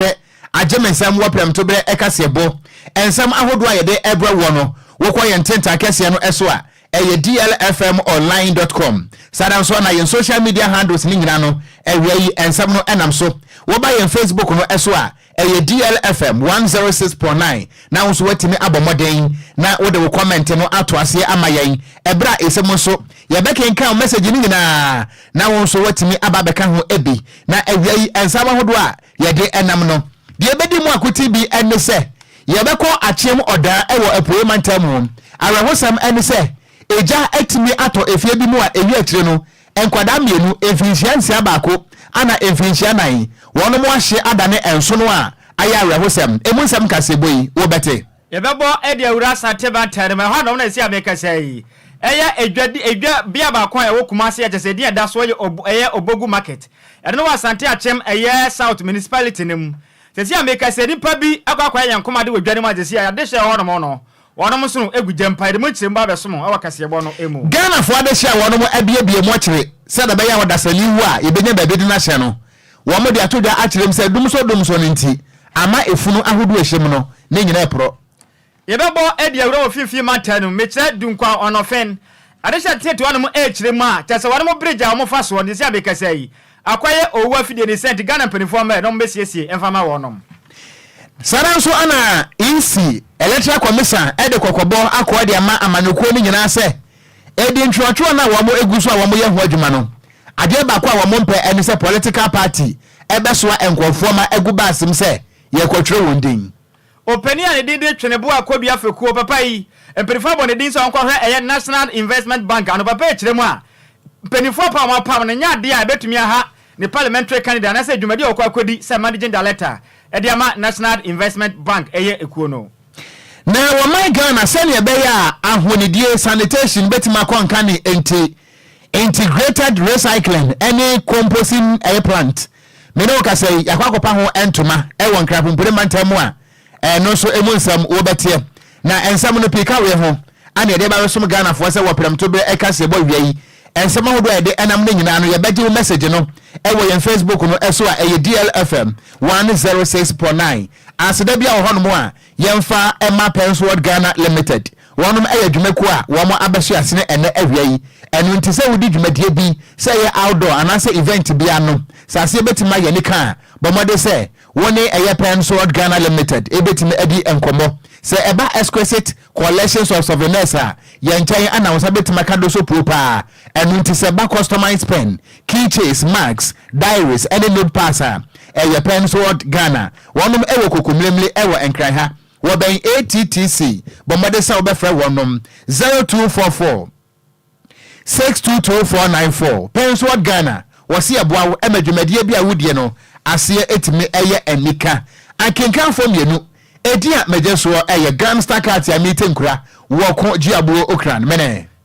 Sɛ agye me nsam wɔ prɛmtoberɛ ɛkaseɛbɔ nsɛm ahodoɔ a yɛde brɛ woɔ no, wokɔ yɛn ntentaa kɛseɛ no so a, ɛyɛ dlfmonline dot com. Saa ara nso na yɛn social media handles no nyinaa no, awia yi nsɛm no nam so. Woba yɛn Facebook no so a, ɛyɛ dlfm one zero six point nine na wo nso woatumi abɔ mmɔden na wode wo kɔmɛnte no ato aseɛ ama yɛn. Ɛberɛ a ɛsɛ mu nso, yɛbɛkenkan wo mɛsɛgye no nyinaa na wo nso woatumi aba abɛka ho bi. Na awia yi nsɛm ahodoɔ a yɛde nam no, deɛ ɛbɛdi mu akoten bi ne sɛ yɛbɛkɔ Akyem Ɔdaa wɔ Apueeɛ Mantam mu. Awerɛhosɛm ne sɛ egya atumi atɔ efie bi mu a ɛwie akyire no nkwadaa mmienu, mfirinhyia nsia baako ana mfirinhyia nan, wɔnom ahye adane nsono a ayɛ awerɛhosɛm. Ɛmu nsɛm nkaseɛbɔ yi wobɛte. Yɛbɛbɔ de awura Asante Mantam mu. Ɛhɔ a na wɔn na ɛsi a mekasa yi. Ɛyɛ edwa di edwa bea baako a ɛwɔ Kumasi a kyerɛ sɛ edin a ɛda so yɛ Ob ɛyɛ Obogu Market. Ɛno no wɔ Asante Akyem ɛyɛ South Municipality no mu. Seesei a mekasa yi nnipa bi akɔ akɔyɛ ayɛnkomade wɔ dwa no mu a seesei a adehyeɛ a ɛwɔ hɔ nom no wɔnom nso no gu gya mpo a yɛde mu nkyerɛmu ba abɛso mo wɔ kaseɛbɔ no mu. Ghanafoɔ adehyeɛ a wɔnom abuebue mu akyire sɛdeɛ ɛbɛyɛ a ɔdasani wu a yɛbɛnya baabi de no ahyɛ no Wɔde ato dwa akyerɛ mu sɛ dumsɔ dumsɔ no nti ama efunu ahodoɔ a ɛhyɛ mu no ne nyinaa reporɔ. Yɛbɛbɔ adi awura wɔ Finfin mantan no mu, mekyerɛ Dunkwa, Ɔnɔfen, Adehye Ateteɛ te hɔnom rekyerɛ mu a kyerɛ sɛ wɔnom bridge a wɔfa soɔ no sɛsi a mekasa yi akɔyɛ owuo afidie ne sɛ nti Ghana mpaninfoɔ mmrɛ na wɔmmɛsiesie mfa ma wɔnom. Saa ara nso na EC, Electoral Commission, de kɔkɔbɔ akɔ de ama amanyɔkuo no nyinaa sɛ Edi ntwerɛtwerɛ no a wɔn egu so a wɔn yɛ ho adwuma no, adeɛ baako a wɔn mpɛ ɛne sɛ political party ɛbɛsoa nkorɔfoɔ ma agu baasem sɛ yɛrekɔtwerɛ wɔn din. Opanin a ne din de Tweneboa Kwadwo Afekuo, papa yi, mpaninfoɔ abɔ ne din sɛ ɔnkɔhwɛ ɛyɛ National Investment Bank ano, papa yi kyerɛ mu a, mpaninfoɔ apam a wɔn apam no nyɛ adeɛ a ɛbɛtumi aha ne parliamentary candidate anaasɛ dwumadi a ɔkɔ akɔdi sɛ managing director ɛde ama National Investment Bank ɛyɛ ekuo no. Na wɔ man Ghana, sɛnea ɛbɛyɛ a ahonidie, sanitation, bɛtumi akɔ nkane nti, Integrated Recycling ne Composing ɛyɛ plant. Me ne wo kasa yi, yɛakɔ akɔpa ho ntoma wɔ Nkrapompire mantam mu a ɛno nso ɛmu nsɛm wobɛteɛ. Na nsɛm no pii ka wei ho a na yɛde ba bɛsom Ghanafoɔ sɛ wɔ prɛmto berɛ ɛka seɛbɔ awia yi. Nsɛm ahodoɔ a yɛde nam no nyinaa no, yɛbɛgye wo message no wɔ yɛn Facebook no so a ɛyɛ DLFM 106.9. Aseda bi a wɔ hɔnom a yɛmfa mma Penn's World Ghana Limited. Wɔnom yɛ dwumakuo a wɔn abɛso asene ɛnnɛ awia yi. Ɛno nti sɛ wodi dwumadie bi, sɛ ɛyɛ outdoor anaasɛ event bi ano, sɛ aseɛ bɛtumi ayɛ anika a, bɔ mmɔden sɛ wo ne ɛyɛ Penn's World Ghana Limited bɛtumi adi nkɔmmɔ. Sɛ ɛba Exquisite Collections of Souvenirs a, yɛn nkyɛn na wo nsa bɛtumi aka do so puo pa ara. Ɛno nti sɛ ɛba customised pen, key chains, mugs, diaries ne notepads a, ɛyɛ pɛ nso wɔ Ghana. Wɔnom wɔ Kokomlemle wɔ Nkran ha. Wɔbɛn ATTC. Bɔ mmɔden sɛ wobɛfrɛ wɔnom, zero two four four, six two two four nine four. Pɛ nso wɔ Ghana. Wɔse yɛboa wo ma dwumadie bi a wodie no aseɛ tumi yɛ anika. Akenkanfoɔ mmienu, edin a megye soɔ yɛ Gram Star Katia Mite Nkura, Wɔko, Gyeabuo, Okran. Mene.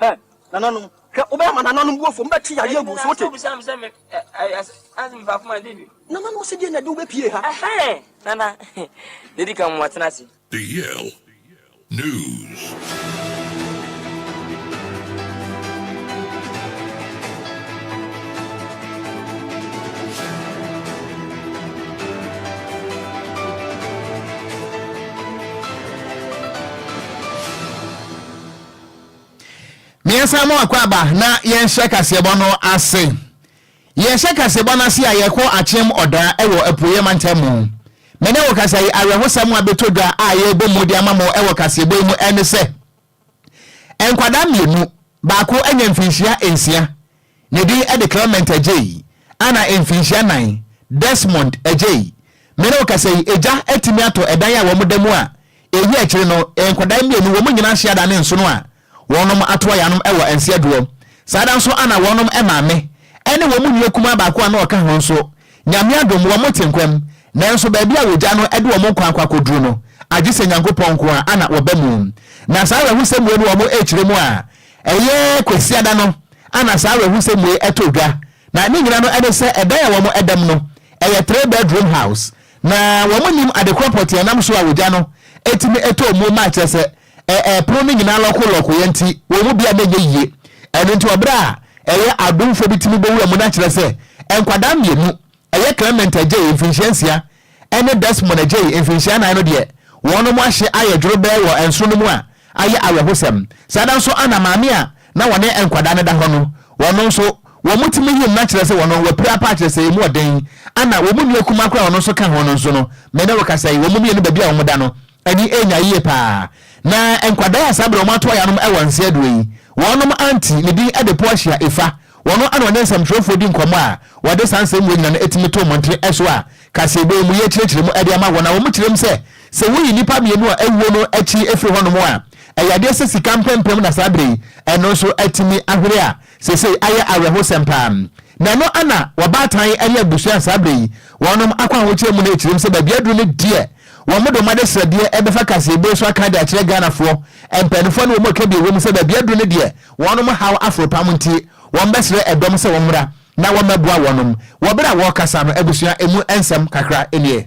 Hwɛ, nananom, hwɛ, wobɛma nananom bu afuo, mobɛte yareɛ agu wo so, wote? Nananom se deɛ na ɛde wobɛpie ha. Nana, deɛ ɛdi kan moatena ase. The Yale News. Miɛnsa mu akwaaba na yɛnhyɛ kaseɛbɔ no ase. Yɛhyɛ kaseɛbɔ no ase a yɛkɔ Akyem Ɔda wɔ Apueɛ Mantam mu. Me ne wo kasa yi awerɛhosɛm a bɛtɔ dwa a yɛrebɔ mu de ama mo wɔ kaseɛbɔ yi mu ne sɛ, nkwadaa mmienu, baako anya mfinhyia nsia, Ne din de Clement Adjei, a na mfinhyia nnan, Desmond Adjei. Me ne wo kasa yi, egya atumi atɔ ɛdan a wɔda mu a eyi akyiri no, nkwadaa mmienu, wɔn nyinaa ahye ada ne nsono a wɔnom ato ayɛ anom wɔ Anseaduɔ. Saa da nso a na wɔnom maame ne wɔn nua kumaa baako a na ɔka ho nso, Nyame adom, wɔte nkwa mu, nanso baabi a wɔgya no de wɔn nkwa akɔ akɔduru no, agye sɛ Nyankopɔn nko ara na ɔba mu. Na saa awerɛhosɛmue no wɔn rekyerɛ mu a, Ɛyɛ Kwasiada no na saa awerɛhosɛm wei ɛtoo dwa, na ne nyina no ɛne sɛ ɛdan a wɔn ɛdam no ɛyɛ three bedroom house na wɔn nim adekorɔ pɔtee ɛnam so a wogya no ɛtumi ɛtɔ muo ma kyerɛ sɛ ɛɛ pono no nyinaa lɔko lɔkoeɛ nti wɔn mu biara ɛnyɛ yie ɛno nti wɔ berɛ a ɛyɛ adomfoɔ bi tumi bɛwura mu na kyerɛ sɛ nkwadaa mmienu Ɛyɛ Clement Adjei, mfirinhyia nsia, ɛne Desmond Adjei, mfirinhyia nan no deɛ. Wɔnom ahye ayɛ dworobɛɛ wɔ ɛnsono no mu a ayɛ awerɛhosɛm. Saa da nso ana maame a na wɔne nkwadaa no da hɔ no, wɔno nso, wɔn mu timi yim na kyerɛ sɛ wɔno wɔapira paa kyerɛ sɛ ɛmu ɔden. Ana wɔn mu nua kumaa koraa a ɔno nso ka ho no nso no, me ne wo kasa yi, wɔn mu mmienu baabi a wɔn da no, Ani anya yie paa. Na nkwadaa a saa berɛ a wɔato ayɛ anom wɔ nse aduro yi, wɔnom auntie, ne din de Portia Ifa, wɔno na wɔne nsɛmtwerɛfoɔ di nkɔmmɔ a wɔde saa nsɛm wei nyinaa no tumi to mmɔntene so a kaseɛbɔ yi mu yɛrekyerɛkyerɛ mu de ama wɔn. Na wɔkyerɛ mu sɛ, sɛ woyi nnipa mmienu a awuo no akyi firi hɔnom a, ɛyɛ adeɛ sɛ sika mpempem na saa berɛ yi ɛno nso atumi ahwere a Seesei ayɛ awerɛhosɛm paa na ɛno na wɔbaatan ne abusua saa berɛ yi wɔnom akɔ ahokyerɛ mu no ɛkyirim sɛ baabi aduru no deɛ wɔmode wɔn adesrɛdeɛ ɛbɛfa kaseɛbue so aka de akyerɛ Ghanafoɔ mpaninfoɔ ne wɔn a ɛka bi ɛwɔ mu sɛ baabi aduru no deɛ wɔnom haw aforo pam nti wɔbɛsrɛ ɛdɔm sɛ wɔmmra na wɔmmɛboa wɔnom wɔ berɛ a wɔrekasa no abusua ɛmu nsɛm kakra nie.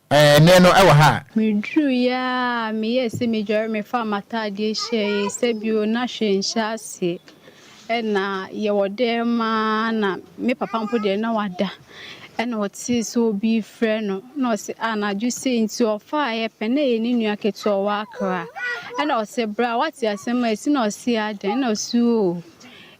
Ɛɛ, nnɛ no ɛwɔ ha a. Meduruiɛ ara a, meyɛɛ sɛ mɛdware mefaa m'ataadeɛ hyɛeɛ sɛ bio na hwee nhyɛ aseɛ. Ɛna yɛwɔ dɛm ara na me papa mpo deɛ na wada ɛna ɔtee sɛ obi refrɛ no na ɔse anadwo sei nti ɔfaeɛ pɛ na ɛyɛ ne nua ketewa a ɔwɔ Accra. Ɛna ɔse bra woate asɛm a asi na ɔse adɛn na ɔse oo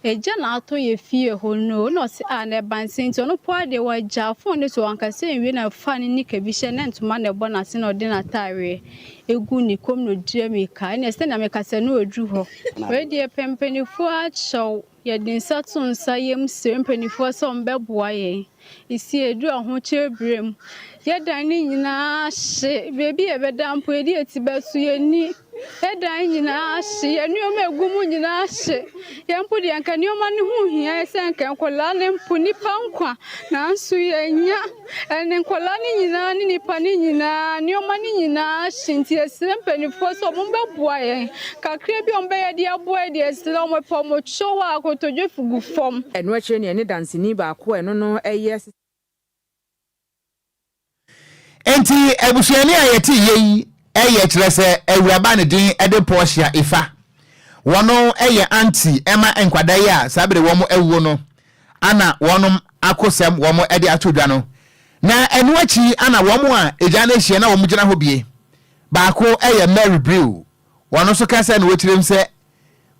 Egya na atɔ yɛ fie hɔ no na ɔse ah na ɛba nsɛn nti ɔno mpo ara deɛ wagya phone no so ankasa nwie na ɔfaa ne nika bi hyɛ na ntoma na ɛbɔ n'ase na ɔde n'ataareɛ ɛgu ne kɔm na ɔdidi ammirika ɛneɛ sɛnea mekasa no aduru hɔ. Wei deɛ pɛ mpanifoɔ akyɛw yɛde nsa to nsa yɛm srɛ mpanifoɔ sɛ wɔn bɛboa yɛn. si edu ɔhokyere bere mu. Yɛdan ne nyinaa hye, baabi a yɛbɛda mpo, yɛde yɛn ti bɛso, yɛnni. Yɛdan ne nyinaa hye, yɛn nneɛma a egu mu nyinaa hye. Yɛn mpo deɛ anka nneɛma no ho hia yɛn sɛ anka nkwadaa no mpo, nnipa nkwa, nanso yɛnnya. Ɛnne nkwadaa no nyinaa ne nnipa no nyinaa, nneɛma no nyinaa hye, nti yɛsrɛ mpanimfoɔ sɛ wɔmmɛboa yɛn. Kakra bi a wɔbɛyɛ de aboa de asi na wɔpɛ wɔn kyew a, kotodwe gu fam. Ɛno akyiri no, yɛne Danseni baako a ɛno no yɛ. Enti abusuani a yɛte yei yɛ kyerɛ sɛ awuraba ne din de Portia Ifa. Wɔno yɛ aunty ma nkwadaa yi a saa bere wɔn awuo no ana wɔn ako sɛm wɔn de ato dwa no. Na ɛno akyi ana wɔn a egya no ahyia na wɔn gyina hɔ bie. Baako yɛ Mary Brew Wɔn nso ka sɛ na wɔkyerɛ mu sɛ,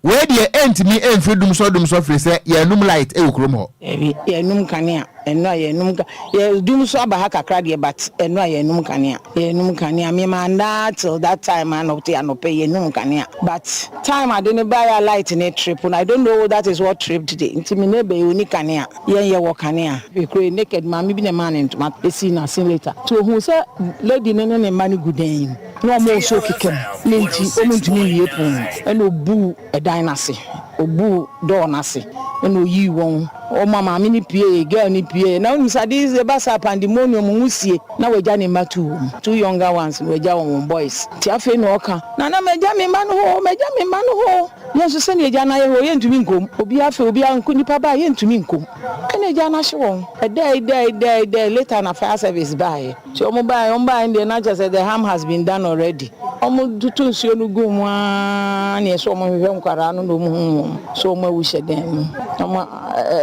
Wei deɛ ɛntumi mfiri dumsɔ dumsɔ firi sɛ yɛanum light wɔ kurom hɔ. Daabi, yɛanum kanea. Ɛno a yɛanum ka, yɛ, dumsɔ aba ha kakra deɛ, but ɛno a yɛanum kanea. Yɛanum kanea. Me maa nnaa till that time anɔte anɔpɛ yɛanum kanea. But time ade no baeɛ a light no trip no, I don't know that is what tripped the, nti me neighbour yi ɔnni kanea. Yɛn yɛwɔ kanea. Me kura yi naked, maame bi na ɛmaa no ntoma, ɛsii n'ase later. Nti ɔhuu sɛ lady no ne ne mma no gu dan mu. Na wɔresow kɛkɛ mu, ne nti wɔrentumi mmue pon no. Ɛnna obuu dan no ase, obuu door no ase, ɛnna oyii wɔn. Ɔma maame no puee, girl no puee. Na wunim sɛ ade ba saa a, pandemonium, nwusie, na wagya ne mma two wɔn. Two younger ones no, wagya wɔn, wɔn boys. Nti afei na ɔka, Nana, magya me mma no hɔ oo, magya me mma no hɔ oo. Yɛn nso, sɛnea agya no ayɛ hɔ, yɛrentumi nkɔ mu. Obiara afei, obiara, nnipa baa, yɛrentumi nkɔ mu. Ɛnna agya no ahye wɔn. Ɛdae, dae, dae, dae, later na fire service baeɛ. Nti ɔmo bae ɔmo bae no deɛ na kyerɛ sɛ the harm has been done already. Ɔmo toto nsuo no guu mu aa neɛ sɛ ɔmo hwehwɛ nkwadaa no na ɔmo hu wɔn sɛ ɔmo awu hyɛ dan mu na ɔmo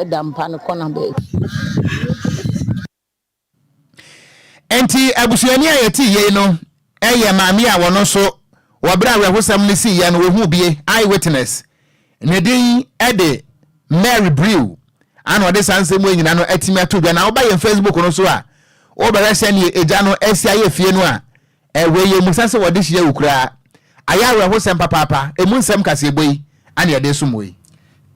ɛda mpa no kɔna baabi. Enti abusuani a yɛtee yei no yɛ maame a wɔno nso wɔ berɛ a awerɛhosɛm no siiɛ no wɔhuu bie, eye witness. Ne din de Mary Brew ana ɔde saa nsɛm wei nyina no atumi ato dwa na woba yɛn Facebook no so a wobɛhwɛ sɛdeɛ agya no asi ayɛ fie no a ɛwei yɛ musa sɛ wɔde hyia wo koraa ayɛ awerɛhosɛm papaapa ɛmu nsɛm kaseɛbɔ yi ana yɛde som wei.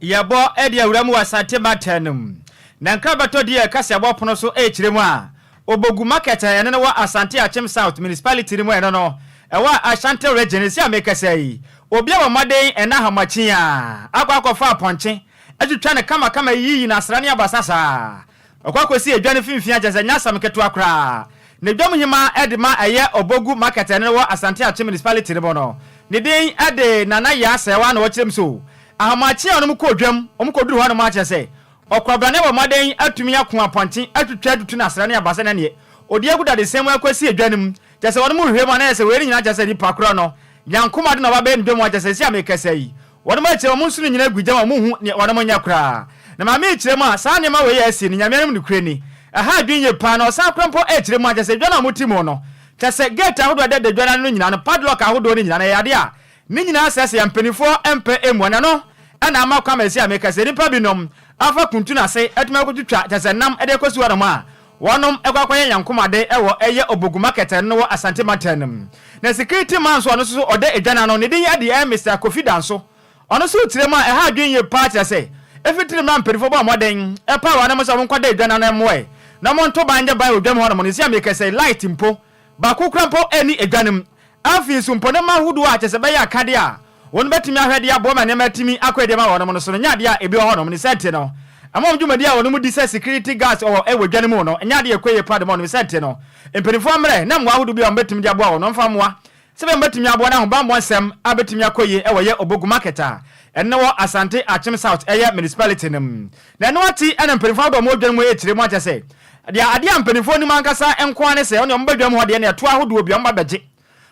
Yɛbɔ ɛde awura mu wɔ Asante Mantam no mu. Na nkrabɛtɔ din a ɛka sɛ bɔ pono so ɛkyerɛ mu a Obogu market a ɛno no wɔ Asante Akyem South Municipality no mu ɛno no ɛwɔ Ashanti Region ɛsi a mekasa yi obi abɔ mmɔden ɛna ahomakyin a akɔ akɔfa apɔnkye atwitwa no kama kama ayiyi no asra ne abasa saa ɔkɔ akɔsi edwa no finfin a kyerɛ sɛ ɛnyɛ asɛm ketewa koraa ne dwom hema ɛde ma ɛyɛ Obogu market ɛno no wɔ Asante Akyem Municipality no mu no ne din ɛde Nana Yaa Sɛɛwaa na ɔkyerɛ mu so ahomakyin a wɔn kɔ dwam wɔn kɔ duru hɔ nom a kyerɛ sɛ Ɔkwabrane bɔ mmɔden atumi ako apɔnkye, atwitwa atutu ne asra ne abasa ne aneɛ. Ɔdi agu dadesɛn mu akɔsi edwa no mu. Kyerɛ sɛ wɔnom hwehwɛ mu a na ayɛ sɛ wei no nyinaa kyerɛ sɛ nipa korɔ no Nyankomaa de na ɔba bɛyɛ ne dwa mu a kyerɛ sɛ sɛsi a merekasa yi wɔnom akyerɛ wɔn nsono nyinaa agu gya mu a wɔnhu neɛ wɔnom nyɛ koraa na ma merekyerɛ mu a saa nneɛma wei a asi no Nyame anim nokorɛ ni ɛha adwene yie paa na ɔsan korɔ mpo ɛrekyerɛ mu a kyerɛ sɛ edwa no a wɔte mu no kyerɛ sɛ gate ahodoɔ a ɛdɛdɛ dwa no ano no nyinaa no padlock ahodoɔ no nyinaa no ɛyɛ adeɛ a Ne nyinaa sɛ sɛ mpaninfoɔ mpɛ mmua no ɛno na ama kwan ma ɛsi a meka sɛ nnipa bi nom afa kuntu no ase atumi akɔ twitwa kyɛsɛ nam de kɔsi hɔ nom a wɔnom kɔ akɔ yɛ yankom ade wɔ ɛyɛ Obogu market ɛno wɔ Asante mantam no mu na security man nso ɔno nso so ɔda edwa no ano ne din ɛde ɛyɛ Mister Kofi Danso ɔno nso rekyerɛ mu a ɛha adwene yie paa kyerɛ sɛ ɛfiri tiri mmra mpaninfoɔ bɔ mmɔden ɛpae wɔnom sɛ wɔn nkɔ da edwa no ano ɛmmoa na wɔn nto ban nyɛ ban wɔ dwam hɔ nom no ɛsi a meka sɛ light mpo Baako koraa mpo nni adwanem. Afei nso, mpɔnam ahodoɔ a kyerɛ sɛ ɛbɛyɛ akadeɛ a wɔbɛtumi ahwɛ de aboa ma nneɛma atumi akɔ yie ama wɔn no so no nyɛ adeɛ a ebi wɔ hɔnom. Ne saa nti no, ɛma wɔn dwumadi a wɔnom di sɛ security guards wɔ wɔ adwa no mu no nyɛ adeɛ a ɛkɔ yie paa de ma wɔnom. Ne saa nti no, mpanimfoɔ mmrɛ na mmoa ahodoɔ bi a wɔbɛtumi de aboa wɔn no mfa mmoa Sɛbɛn bɛtumi aboa n'ahobanbɔ nsɛm a bɛtumi akɔ yie wɔ yɛ Obogu market a ɛno wɔ Asante Akyem South ɛyɛ municipality no mu. Na ɛno ati ɛna mpaninfoɔ ahodoɔ a wɔwɔ dwa no mu ɛrekyire mu akyɛ sɛ deɛ adeɛ a mpaninfoɔ nim ankasa nko ara ne sɛ wɔn deɛ wɔba dwam hɔ deɛ ne ɛtoɔ ahodoɔ bi wɔba bɛgye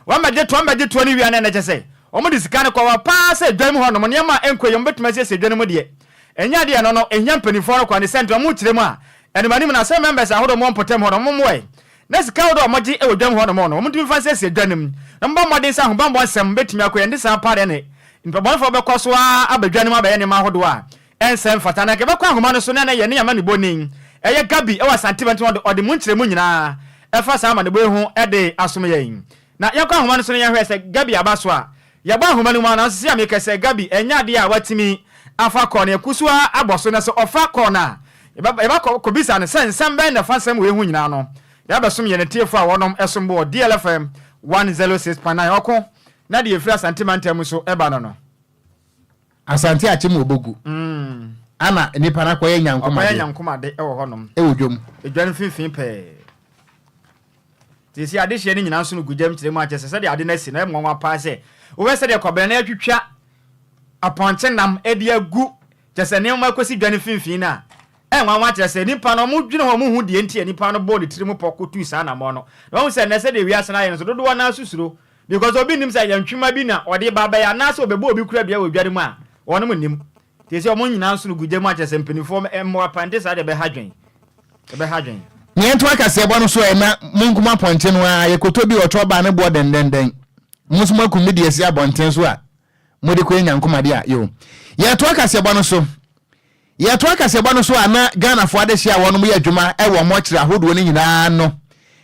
wɔn bɛgye toɔ wɔn bɛgye toɔ no wie a na ɛno kyɛ sɛ wɔn de sika no kɔ hɔ paa sɛ dwa mu hɔ nom nneɛma a ɛnkɔ yie wɔn bɛtumi asiesie dwa no mu deɛ ɛnyɛ adeɛ a ɛno no ɛhia mpaninfoɔ no kwa ne sɛ nti wɔn kyerɛ mu a ɛnom anim na sɛ members ahodoɔ wɔn mpɔtam hɔ no wɔn mmoa na sika ahorow a wɔgye wɔ dwam hɔ no mu no, wɔntumi mfa nsiesie dwa no mu, na wɔbɔ mmɔden sɛ ahobammɔ nsɛm betumi akɔ yɛn. Ɛnte saa paa de, ɛnde nnipa bɔnefo bɛkɔ so ara aba dwa no mu abɛyɛ nneɛma ahodow a ɛnsɛ mfata. Na anka ɛbɛkɔ ahoma no so na na yɛne amanebɔni ɛyɛ Gaby wɔ Asante Bɛnta no de ɔde mu nkyerɛmu nyinaa ɛfa saa amanebɔ yi ho de asom yɛn. Na yɛkɔ ahoma no so na yɛhwɛ sɛ Gaby aba so a, Yɛbɔ nhoma no mu a, nanso sɛa mekɛ sɛ Gabi ɛnyɛ adeɛ a watumi afa kɔɔ na yɛku so ara abɔ so, na sɛ ɔfa kɔɔ no a, yɛbɛ yɛbɛ kɔ kɔbisa no sɛ nsɛm bɛn na ɛfa nsɛm wei ho nyinaa no, de abɛsom yɛn atiefoɔ a wɔnom ɛsom bo wɔ DL FM 106.9 ɔko na deɛ ɛfiri Asante mantam mu nso ɛba no no. Asante Akyem wɔ Bogu ana nipa no akɔyɛ nyankomade. Ɔkɔyɛ nyankomade wɔ hɔnom. Ɛwɔ dwam. Edwa no mfimfini pɛɛ. Sɛsi adehyeɛ no nyinaa nso no gu gyam kyerɛ mu akyɛ sɛ sɛdeɛ ade no asi no ɛyɛ nwanwa paa sɛ wobɛ sɛdeɛ kɔbena no atwitwa apɔnkye nam ɛde agu kyɛ sɛ nneɛma kɔsi dwa no mfimfini no a ɛyɛ nwanwa kyerɛ sɛ nipa no ɔmo dwene ho ɔmo hu deɛ nti a nipa no bɔɔ ne tiri mu pɔ kɔtuu saa anamɔ no na wahu sɛ nnɛ sɛdeɛ wiase no ayɛ no nso dodoɔ no ara susuro Because obi nnim sɛ yɛ ntwema bi na ɔde ba bɛyɛ anaasɛ ɔbɛbɔ obi kura dua wɔ dware mu a, wɔnom nnim. Nti ɛsɛ wɔn nyinaa nsono gu gya mu akyɛsɛ mpaninfoɔ mmoa pa nte saa deɛ ɛbɛha dwen. Ɛbɛha dwen. Nea ɛto akaseɛbɔ no so ɛ na monkum apɔnkye no ara, yɛkɔtɔ bi ɔtorɔ ba a ne boɔ dɛndɛndɛn, mo nso moakum bi de asi abɔnten so a mode kɔyɛ nyankomade a, yoo. Yɛto akaseɛbɔ no so Yɛtoa kaseɛbɔ no so a na Ghanafoɔ adehyeɛ a wɔnom yɛ adwuma wɔ wɔn ɔkyerɛ ahodoɔ no nyinaa ano.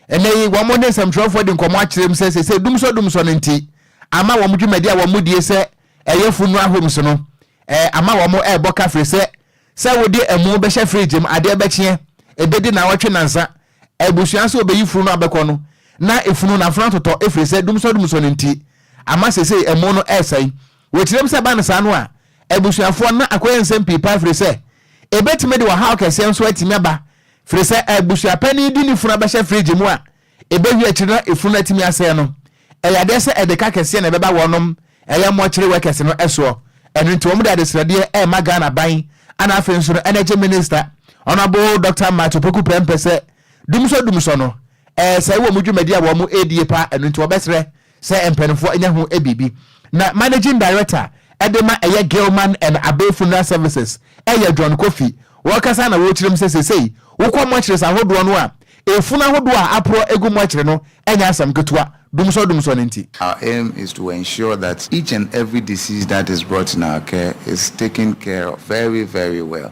Ɛnnɛ yi wɔn ne nsɛmtwerɛfoɔ di nkɔmmɔ akyerɛ mu sɛ seesei dumsɔ dumsɔ no nti ama wɔn dwumadi a wɔn die sɛ ɛyɛ Funua Homes no ama wɔn rebɔ ka firi sɛ sɛ wode amu bɛhyɛ fridge mu adeɛ bɛkyeɛ ɛbɛdi nnawɔtwe nnansa abusua sɛ ɔbɛyi funu no abɛkɔ no na funu no afunu atotɔ firi sɛ dumsɔ dumsɔ no nti ama seesei amu no resɛe. Wɔkyerɛm sɛ ɛba no saa no a abusuafoɔ na akɔyɛ nsɛm pii paa firi sɛ ɛbɛtumi de ɔhaw kɛseɛ nso atumi aba firi sɛ abusuapanin de ne funu abɛhyɛ fridge mu a ɛbɛwie akyiri na efunu no atumi asɛe no ɛyɛ adeɛ sɛ ɛde ka kɛseɛ na ɛbɛba wɔnom ɛyɛ mortuary workers no soɔ ɛno nti wɔn de adesradeɛ ɛrema Ghana ban ana afei nso no energy minister Honourable Dr. Matt Opoku Prempeh sɛ dumsɔ dumsɔ no ɛresɛe wɔn dwumadi a wɔn ɛredie paa ɛno nti wɔbɛsrɛ Sɛ mpaninfoɔ nya ho biribi na Managing Director de ma ɛyɛ Gilman and Abey Funeral Services yɛ John Kofi wɔkasa na wɔkyerɛm sɛ sesei wokɔ mortuaries ahodoɔ no a efunu ahodoɔ a aporɔ gu mortuary no nyɛ asɛm ketewa dumsɔ dumsɔ no nti. Our aim is to ensure that each and every deceased that is brought in our care is taken care of very very well.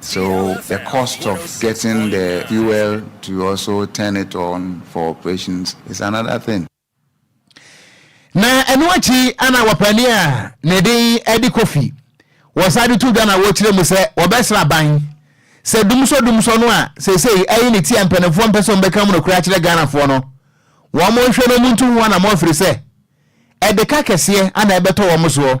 So the cost of getting the fuel to also turn it on for operations is another thing. Na ɛno akyi ana wɔpɛni a ne din de Kofi wɔsan de to dwa na wɔkyerɛ mu sɛ wɔbɛsra aban sɛ dumsɔdumsɔ no a seesei ayi ne ti a mpanimfoɔ mpɛ sɛ wɔbɛka mu nokorɛ akyerɛ Ghanafoɔ no wɔnhwɛ na wɔntu ho anammɔn ɛfiri sɛ ɛde ka kɛseɛ ana ɛbɛtɔ wɔn soɔ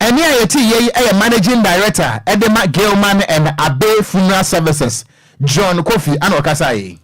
Ɛnne a yɛte yei yɛ Managing Director de ma Gilman and Abbey Funeral Services, John Kofi na ɔkasaeɛ yi.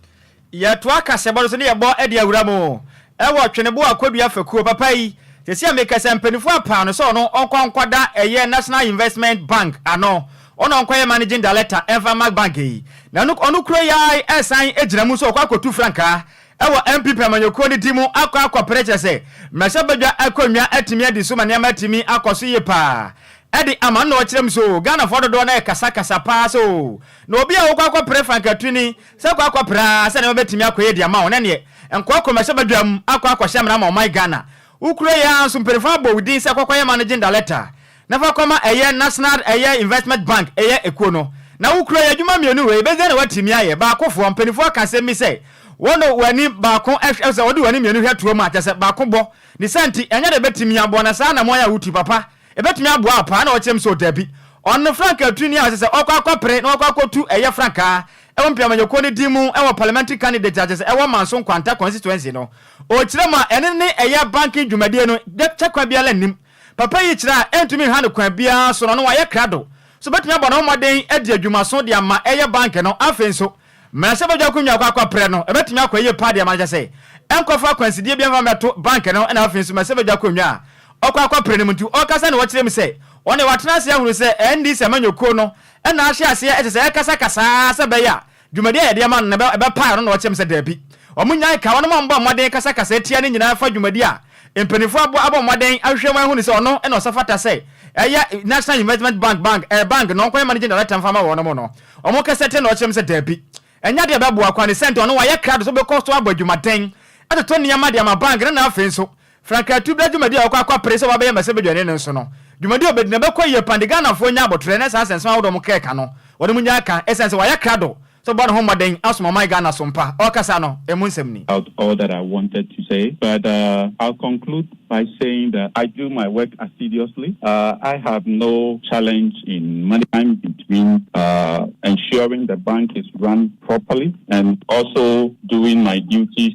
Yɛtoa kaseɛbɔ no so ne yɛbɔ de awura mu wɔ Tweneboa Kwadua Fekuo. Papa yi, seesei a mekasa yi, mpaninfoɔ apaa no sɛ ɔno ɔnkɔ nkɔda ɛyɛ National Investment Bank ano, ɔna ɔnkɔyɛ Managing Director mfa mma bank yi. Na ɔno kura yi ara resan gyina mu sɛ ɔkɔ akɔtu frankaa Ɛwɔ NPP amanyɔkuo no ti mu akɔ akɔpere kyerɛ sɛ mmarahyɛbadwa akonnwa atumi adi so ma nneɛma atumi akɔ so yie pa ara. Ɛde ama no na ɔkyerɛ mu sɛ oo, Ghanafoɔ dodoɔ no ara rekasakasa pa ara sɛ oo, na obi a wokɔ akɔpere Frank Atwini sɛ kɔ akɔpere ara sɛ nneɛma bɛtumi akɔ yie de ama wo na ɛneɛ nkɔkɔ mmarahyɛbadwa mu akɔ akɔhyɛ mmara ma ɔman Ghana. Wokuroyɛ ara nso mpanimfoɔ abɔ wo din sɛ kɔkɔyɛ ma no gyenda lɛta na fa kɔma ɛyɛ National ɛyɛ Investment Bank ɛyɛ ekuo no. Na wo kuro yi, adwuma mmienu wei, bɛdeɛn na woatumi ayɛ? Baakofoɔ, mpaninfoɔ ka asɛm bi sɛ, Wɔde wɔn ani baako hwɛ, sɛ wɔde wɔn ani mmienu hwɛ toa mu a, kyerɛ sɛ, baako bɔ. Ne saa nti, ɛnyɛ deɛ ɛbɛtumi aboa, na saa anammɔn yi a wotu, papa, ɛbɛtumi aboa wo paa? Na ɔkyerɛ me sɛ, O dabi. Ɔno no frankaa tuni a ɔsɛ sɛ ɔkɔ akɔpere na wakɔ akɔtu ɛyɛ frankaa wɔ mpeamanyɛkuo no din mu wɔ parliamentary candidate a kyerɛ sɛ ɛwɔ Manso Nkwanta constituency no. Ɔkyerɛ mu a, ɛno ne ɛyɛ banking dwumadie no, kyɛkwa biara nnim. Papa yi kyerɛ a ɛntumi nha no kwan biara so no, na wayɛ krado sɛ obetumi abɔ ne ho mmɔden adi adwumaso de ama ɛyɛ bank no. Afei nso, mmarahyɛbadwa ko nyaa kɔ akɔpere no. Ebetumi akɔ yiye paa de ama no, kyerɛ sɛ, ɛnkɔfa akwansideɛ biara mfa mmɛto bank no. Ɛnna afei nso, mmarahyɛbadwa ko nyaa ɔkɔ akɔpere no mu nti, ɔkasa na ɔkyerɛ mu sɛ ɔno deɛ watena ase ahunu sɛ NDC amanyɔkuo no na ahyɛ aseɛ kyerɛ sɛ ɛrekasakasa ara sɛ ɛbɛyɛ a Dwumadi a yɛde ama no no, ɛbɛpa ɛno? Na wɔteɛm sɛ, Dabi. Wɔnnyae ka. Wɔnom a wɔbɔ mmɔden kasakasa atia no nyinaa fa dwumadi a mpanyimfoɔ abɔ abɔ mmɔden ahwehwɛ mu ahu no sɛ ɔno na ɔsafata sɛ ɛyɛ National Investment Bank bank eh, bank na ɔnkɔyɛ managing director mfa ma wɔnom no. Wɔn kasa tia no na wɔteɛm sɛ, Dabi. Ɛnyɛ ade a ɛbɛboa koraa ne sɛ nti ɔno wayɛ krado sɛ ɔbɛkɔ so abɔ adwumaden atoto nneɛma de ama bank no na afei nso Frank Atu bra dwumadi a ɔkɔ akɔpere sɛ wabɛyɛ mmɛsɛbadwani no nso no, dwumadi a obedi no ɛbɛkɔ yie paa de Ghanafoɔ anya aboterɛ na saa nsɛnsɛm ahodoɔ a wɔka yi ka no, wɔde mu nya ka ɛsiane sɛ wayɛ krado sɛ ɔbɛbɔ ne ho mmɔden asom ɔman Ghana so mpa a ɔkasa no ɛmu nsɛm ni. out all that I wanted to say but I'll conclude by saying that I do my work assiduously, I have no challenge in managing time between ensuring the bank is run properly and also doing my duties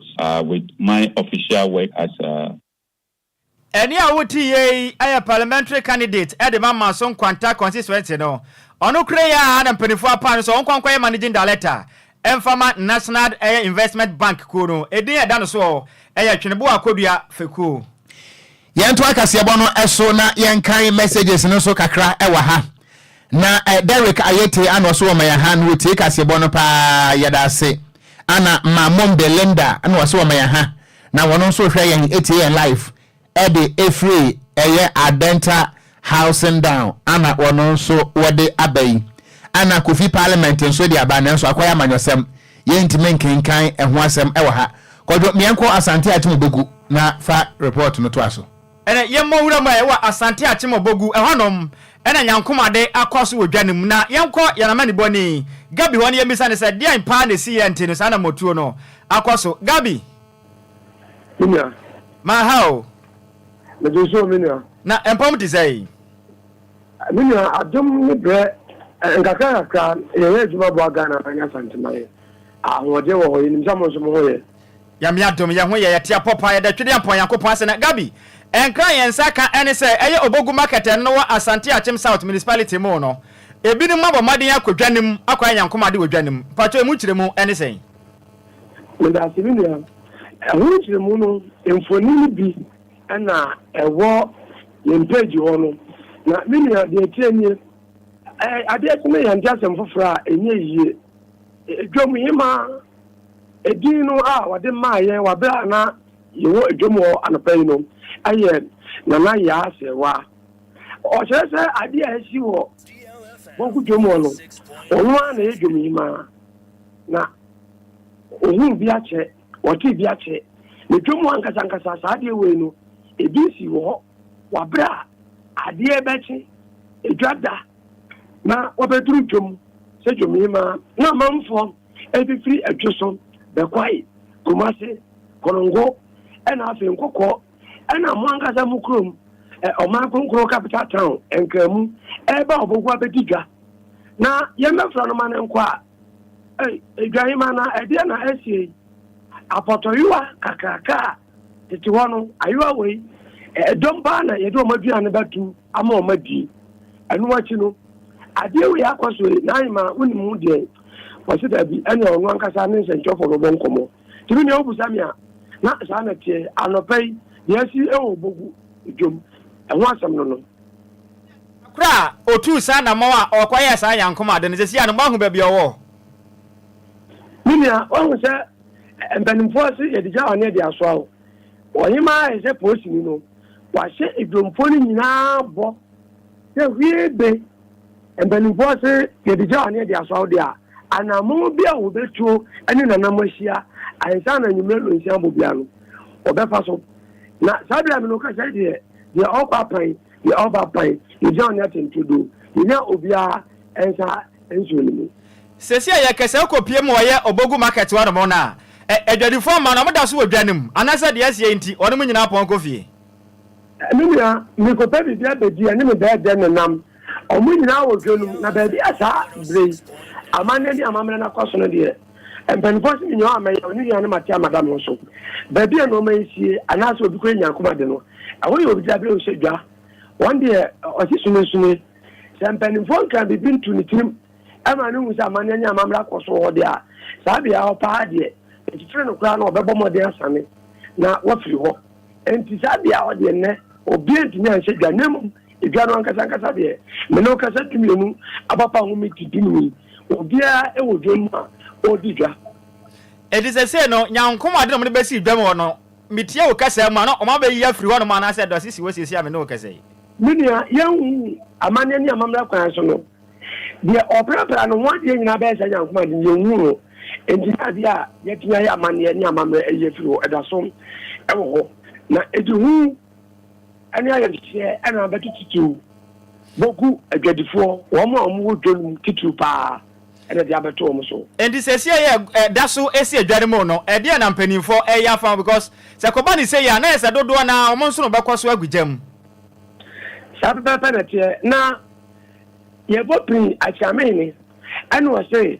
ah with my official work as ah. Ɛne a wote yɛ yi yɛ parliamentary candidate de ma Manso Nkwanta constituency no. Ɔno kura yi a na mpaninfoɔ apaa no sɛ ɔnkɔ nkɔ yɛ managing director mfa ma National investment bank kuo no. Edin a ɛda no soɔ yɛ Tweneboa Kodua fekuo. Yɛntoa kaseɛbɔ no so na yɛnkan messages no nso kakra wɔ ha. Na Derrick Ayete a na ɔso wɔ maya ha na ɔtie kaseɛbɔ no paa, yɛda ase. Ana ma mom Belinda na ɔso wɔ maya ha na wɔn nso hwɛ yɛn tie yɛn live ɛde ɛfiri ɛyɛ Adenta Housing down ana ɔno nso wɔde aba yi? Ana Kofi Parliament nso de aba nanso akɔyɛ amanyɔsɛm, yɛntumi nkenkan ɛho asɛm wɔ ha. Kwadwo, meɛnkɔ Asante Akyem Obogu na fa report no toa so. Ɛnɛ yɛmmɔ nwura mu ɛ wɔ Asante Akyem Obogu, ɛhɔ nom na Nyankomade akɔ so wɔ dwa no mu na yɛnkɔ yɛn amanibɔni Gabi hɔ na yɛmmisa no sɛ deɛn paa na ɛsiiɛ nti no saa namɔtuo no akɔ so. Gabi! Me nua. Ma ha o. Mede so me nua. Na mpɔm te sɛ yi. Me nua adom ne brɛ nkakra nkakra yɛyɛ adwuma boa Ghana man asanteman ahoɔden wɔ hɔ yɛnim sɛ mo nso mo ho yɛ. Nyame adom yɛ ho yɛ yɛte apɔ paa yɛda twede ampɔn Nyankopɔn ase na Gabi nkra yɛn nsa ka ɛne sɛ ɛyɛ Obogu market ɛno no wɔ Asante Akyem South municipality mu no ebinom abɔ mmɔden akɔ dwa no mu akɔyɛ Nyankomade wɔ dwa no mu mpakyɛw emu nkyerɛmu ɛne sɛn? Medaase me nua. Ɛho nkyerɛmu no mfoni no bi na ɛwɔ yɛn page hɔ no. Na me nua deɛ ɛteɛ nie, adeɛ kye no yɛnte asɛm foforɔ a ɛnyɛ yie. Dwam hemaa, edin no a wɔde maa yɛn wɔ berɛ a na yɛwɔ dwam hɔ anɔpa yi no yɛ Nana Yaa Serwa. Ɔkyerɛ sɛ adeɛ a asi wɔ Bonku dwam hɔ no, ɔno ara na ɛyɛ dwam hemaa. Na wɔhuu bi akyɛ, wɔtee bi akyɛ. Na atwa mu ankasankasa saa adeɛ wei no, ebi si wɔ hɔ wɔ aberɛ a adeɛ bɛkye, edwa da, na wɔbɛduru dwom sɛ dwomhemaa. Na amanfoɔ bɛfiri Adwo so bɛkwae, Kumase, Konongo, ɛna afei Nkokɔ. Ɛna mo ankasa mo kurom, ɛ, ɔman kronkron, capital town, Nkraamu, ɛreba a ɔbɔgu abɛdi dwa, na yɛmmɛfrɛ no ma no nkɔ a, ei, dwahema na ɛdeɛ na asie yi? Apɔtɔyowa kakraka a tete hɔ no, ayowa wei, ɛ, dɔm paa na yɛde wɔn aduane no bɛto ama wɔn adie. Ɛno akyi no, adeɛ wei akɔ so ei, Nahima, wonim ho deɛn? Wɔse, Dabi, ɛneɛ ɔno ankasa ne nsɛnkyerɛfoɔ bɛbɔ nkɔmmɔ. Tumi nea wobisa me a, na saa na ɛteɛ. Anɔpa yi, nea asi wɔ Obogu dwom ho asɛm no no. Da koro a otuu saa anammɔn a ɔkɔyɛɛ saa Yankom ade no, seesei a no, moahu baabi a ɔwɔ? Me nua, woahu sɛ mpanimfoɔ se yɛde gya ɔne de asoa wo. Ɔhemmaa ayɛ sɛ polisini no, wahyɛ dwomfoɔ no nyinaa bɔ sɛ hwiibe. Mpanimfoɔ se yɛde gya ne yɛde asɔ awodeɛ a, anammɔn bi a wɔbɛtuo ne Nana mo ahyia ansa na anwummerɛ nnɔnsia bɔ biara no, wɔbɛfa so. Na saa berɛ a me ne wo kasa yi deɛ, deɛ ɔkɔ apan, deɛ ɔba apan, yɛgyaw ne atɛntredoo, yɛnya obiara nsa nsuo no mu. Seesei a yɛrekasa yi wokɔpue ma wɔyɛ Obogu Market hɔnom no a, adwadifoɔ mma no, wɔda so wɔ dwa no mu, anaasɛ deɛ asie yi nti, wɔnom nyinaa pɔn kɔ fie. Me nua, merekɔpɛ biribi abɛdi, ɛne me bɛyɛ dɛn na nam? Wɔn nyinaa wɔ dwa no mu, na baabi a saa berɛ yi amanneɛ ne amammerɛ no akɔ so no deɛ, mpanimfoɔ se menni hɔ a mɛyɛ, ne nuanom ate amada me ho so. Baabi a nnoɔma yi sie, anaasɛ obi kura nyankoma de no, ɛhɔ yɛ ɔbdzabere a ɔhyɛ dwa. Wɔn deɛ, ɔte sunesune. Sɛ mpanimfoɔ nka biribi nto ne tirim ma no hu sɛ amanneɛ ne amammerɛ akɔ so wɔ hɔ deɛ a, saa beaɛ hɔ paa deɛ, ɛtitire no koraa na ɔbɛbɔ mmɔden asane na wafiri hɔ. Enti saa bea hɔ deɛ nnɛ obiara ntumi anhyɛ dwa, na mmom edwa no ankasa ankasa deɛ, me ne wo kasa dumienu abapa ho me ti dunum yi, obiara wɔ dwam mu a ɔredi dwa. Enti seesei no, Nyankom ade na wɔde bɛsi dwam hɔ no, metie wo kasa mu a, na wɔn abɛyiyi afiri hɔnom anaasɛ dɔ asisi hɔ seesei a me ne wo kasa yi. Me nua, yɛnhu wo amanneɛ ne amammerɛ kwan so no, Deɛ ɔprapra no ho adeɛ nyinaa bɛyɛ sɛ nyankomah de, yɛnhunu no, enti na adeɛ a yɛatumi ayɛ amanneɛ ne amammerɛ ayi afiri hɔ da so wɔ hɔ, na ɛde hu ne ayamhyehyeɛ na abɛto titiriw bɔ gu adwadifoɔ, wɔn a wɔwɔ dwa no mu titiriw pa ara na ɛde abɛto wɔn so. Enti seesei a yɛda so si adwa no mu no, ɛdeɛn na mpanimfoɔ reyɛ afa ho? Because sɛ ɛkɔba no sei a, na ayɛ sɛ dodoɔ no ara wɔn nsono bɛkɔ so agu gya mu. Saa pɛpɛɛpɛ na ɛteɛ. Na. Yɛbɔ pini akyea me hene. Ɛna ɔse,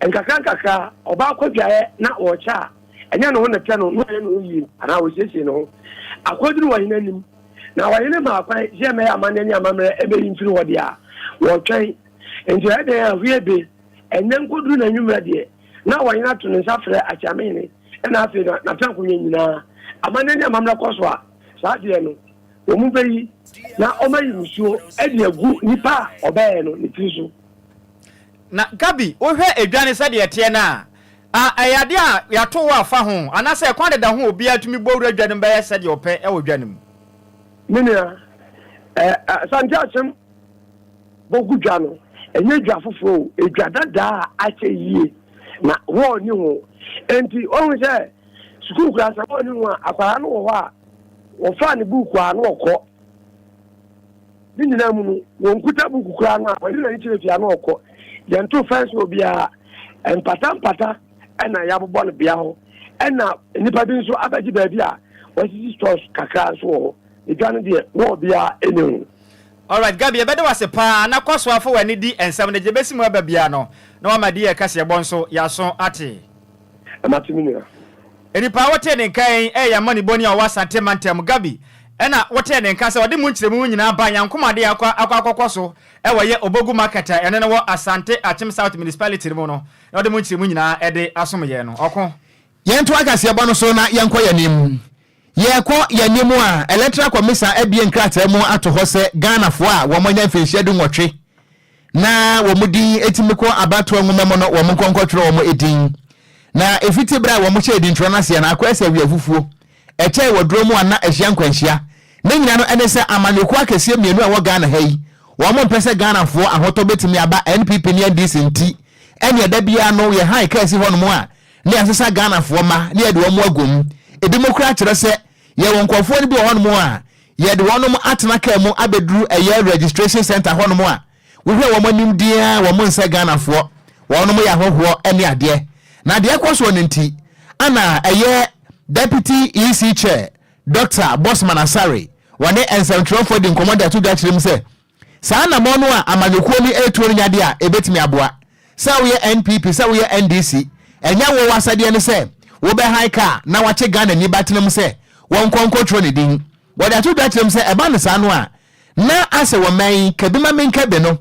nkakra nkakra ɔbaa kɔ dwaeɛ na ɔrekyɛ a, ɛnyɛ ne ho na ɛtɛ no, na ɔyɛ ne ho yie anaa ɔsiesie ne ho akɔduru ɔhene anim. Na ɔhene maa kwan sɛ ɛmmɛyɛ amanneɛ ne amammerɛ ɛbɛyi mfiri hɔ deɛ a, wɔtwɛn. Enti ɔyɛ dɛn a, hwee be, ɛnnɛ nkɔduru na anwummerɛ deɛ, na ɔhene ato ne nsa frɛ akyea me hene, ɛna afei na n'atenankonnwa nyinaa, amanneɛ ne amammerɛ kɔ so a, saa deɛ no. Wɔbɛyi na wɔayi musuo de agu nipa a ɔbɛɛɛ no ne tiri so. Na Gabi, wohwɛ edwane sɛdeɛ ɛteɛ no a, a ɛyɛ adeɛ a yɛato wo afa ho anaasɛ ɛkwan deda ho a obiara tumi bɔ wura dwa no mu bɛyɛ sɛdeɛ ɔpɛ wɔ dwa no mu? Me nua, ɛ ɛ Asante Asem bɔgu dwa no, ɛnyɛ dwa foforɔ o, edwa dadaa a akyɛ yie na hɔɔl nni ho. Enti, woahu sɛ sukuu koraa sɛ hɔɔl nni ho a, akwadaa no wɔ hɔ a, Wɔfaa ne buukuu a na ɔkɔ. Ne nyinaa mu no, wɔnkuta buukuu koraa no a, wɔde n'ani kyerɛ fie a na ɔkɔ. Yɛntoo fɛnse wɔ biara. Mpatampata na yɛabobɔ no bea hɔ. Ɛnna nnipa bi nso abɛgye baabi a wɔasisi stores kakra nso wɔ hɔ. Edwa no deɛ, na obiara nni ho. Alright Gabi yɛbɛda wo ase paa na kɔ so ara fa w'ani di nsɛm no gye bɛsi mu aba biara no na woama deɛ yɛreka sɛ yɛbɔ nso yɛaso ate. Mate me nua. Nnipa a wɔtee ne nka yi reyɛ amanibɔni a wɔwɔ Asante mantam. Gabi na wɔtee ne nka sɛ ɔde mu nkyerɛmu no nyinaa ba Nyankomade akɔ akɔ akɔkɔ so wɔ yɛ Obogu Market a ɛno no wɔ Asante Akyem South Municipality no mu no na ɔde mu nkyerɛmu nyinaa de asom yɛn no. Ɔko. Yɛntoa kaseɛbɔ no so na yɛnkɔ yɛn anim. Yɛrekɔ yɛn anim a, Electoral Commission abue nkrataa mu ato hɔ sɛ Ghanafoɔ a wɔanya mfirihyia dunwɔtwe na wɔn din tumi kɔ abatoɔ nwoma mu no, wɔn nkɔnkɔtwerɛ wɔn din. Na ɛfiti berɛ a wɔhyɛɛ dintwerɛ no aseɛ no, akɔyɛ sɛ awiafufuo, ɛkyɛɛ wɔ dorɔ mu a na ɛhyia nkwanhyia. Ne nyina no ne sɛ amanyɔkuo akɛseɛ mmienu a ɛwɔ Ghana ha yi, wɔn mpɛ sɛ Ghanafoɔ ahotɔ bɛtumi aba NPP ne NDC nti, ɛnneɛ da biara no yɛ han kaa si hɔ nom a na yɛasesa Ghanafoɔ mma na yɛde wɔn agu mu. Ɛbinom koraa kyerɛ sɛ yɛwɔ nkorɔfoɔ no bi wɔ hɔ nom a Yɛde wɔnom atena car mu abɛduru ɛyɛ registration centre hɔnom a, wohwɛ wɔn anim din ara wɔn nsɛ Ghanafoɔ, wɔnom yɛ ahɔhoɔ ne adeɛ. Na deɛ ɛkɔ soɔ no nti ana ɛyɛ Deputy EC Chair Doctor Bossman Asare wɔne nsɛmtwerɛfoɔ di nkɔmmɔ de ato dwa kyerɛ mu sɛ, Saa anammɔn no a amanyɔkuo no retuo no nyɛ adeɛ a ɛbɛtumi aboa. Sɛ woyɛ NPP, sɛ woyɛ NDC, ɛnyɛ wo w'asɛdeɛ ne sɛ wobɛhan kaa na wakye Ghanani ba tenam sɛ wɔnkɔ nkɔtwerɛ ne din. Wɔde ato dwa kyerɛ mu sɛ ɛba no saa no a, na asɛ wɔ mmɛn yi, kabi ma menka bi no,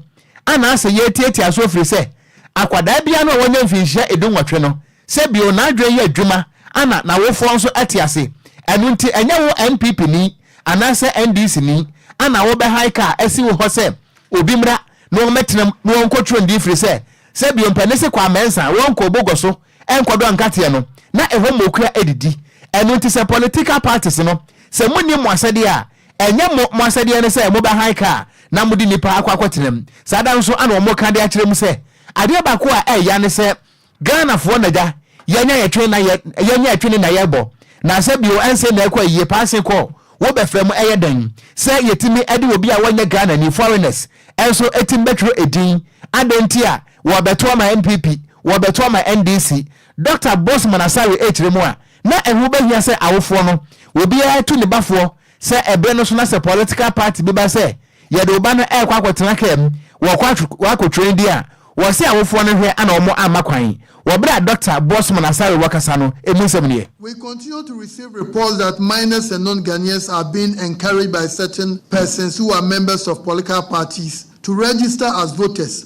ana asɛ yɛretiatia so afiri sɛ akwadaa biara no a wanya mfinhyia ɛdu nwɔtwe no, sɛ bio n'adwene yɛ adwuma ana n'awofoɔ nso ate ase. Ɛno nti ɛnyɛ wo NPP ni Anaasɛ NDC ni ana wo bɛ hike a asi wo hɔ sɛ obi mmra na wɔn mɛtena mu na wɔn kɔ turo ndi firi sɛ sɛ bio mpɛ ne se kɔ amɛnsa wɔn kɔ obo gɔ so nkɔ dɔ nkateɛ no na ɛhɔ mokura adidi ɛno nti sɛ political parties no sɛ mo nni mo asɛdeɛ a ɛnyɛ mo mo asɛdeɛ ne sɛ mo bɛ hike a na mo de nnipa akɔ akɔ tena mu saa da nso ana wɔn ka de akyerɛ mu sɛ adeɛ baako a ɛya ne sɛ Ghanafoɔ na gya yɛnya yɛtwe na yɛ yɛnya ɛtwe ne na yɛbɔ nansɛ bio ɛnse na ɛkɔ ayie paa se kɔ wo bɛfrɛ mu ɛyɛ dɛn sɛ yɛtumi de obi a wɔnyɛ Ghanani foreigners nso ɛtumi bɛtwerɛ ɛdin adɛn nti a wɔbɛto ama NPP wɔbɛto ama NDC Doctor Bossman Asare ɛkyirɛ mu a na ɛho bɛhia sɛ awofoɔ no obiara tu ne bafoɔ Sɛ ɛbere no so na sɛ political party bi ba sɛ yɛde wo ba no ɛrekɔ akɔtena car mu wɔkɔ akɔ train di a, wɔse awofoɔ no hwɛ ana wɔn amma kwan wɔ bere a Doctor Bossman Asare wɔ kasa no ɛmu nsɛm nie. We continue to receive reports that minors and non-Ghanaians are being encouraged by certain persons who are members of political parties to register as voters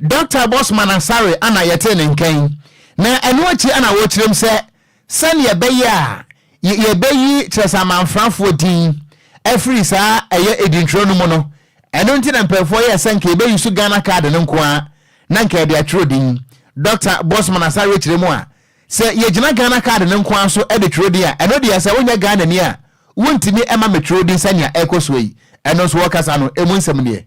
Dɔkta Bossman Asare ana yɛtee ne nka yi, na ɛno akyi ana wɔkyerɛm sɛ sɛdeɛ ɛbɛyɛ a yɛbɛyi Kyerɛsɛ-Amanfrafoɔ din afiri saa ɛyɛ edintwerɛ no mu no, ɛno nti na mpanyinfoɔ yɛɛ sɛ nka yɛbɛyi so Ghana card no nko ara na nka yɛde atwerɛ din. Dɔkta Bossman Asare kyerɛ mu a, sɛ yɛgyina Ghana card no nko ara so de twerɛ din a, ɛno deɛ sɛ wonyɛ Ghanani a wontumi mma me twerɛ din sɛnea ɛrekɔ soɔ yi. Ɛno nso wɔkasa no ɛmu nsɛm nie.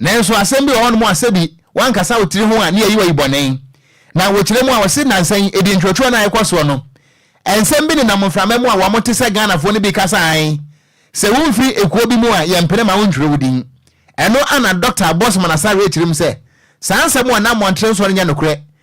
Nanso asɛm bi wɔ hɔnom a sɛbi woankasa wo tiri ho a ne yɛyi wo ayi bɔne. Na wɔkyerɛ mu a wɔse nnansa yi ɛdi ntwerɛtwerɛ no a ɛkɔ soɔ no, nsɛm bi nenam mframa mu a wɔn te sɛ Ghanafoɔ no bi kasa ae sɛ womfiri ekuo bi mu a yɛmpene ma wontwerɛ wo din. Ɛno a na Dɔkta Abbossman Asare rekyerɛ mu sɛ saa nsɛm wɔ Nammɔntene nsoɔ no nyɛ nokorɛ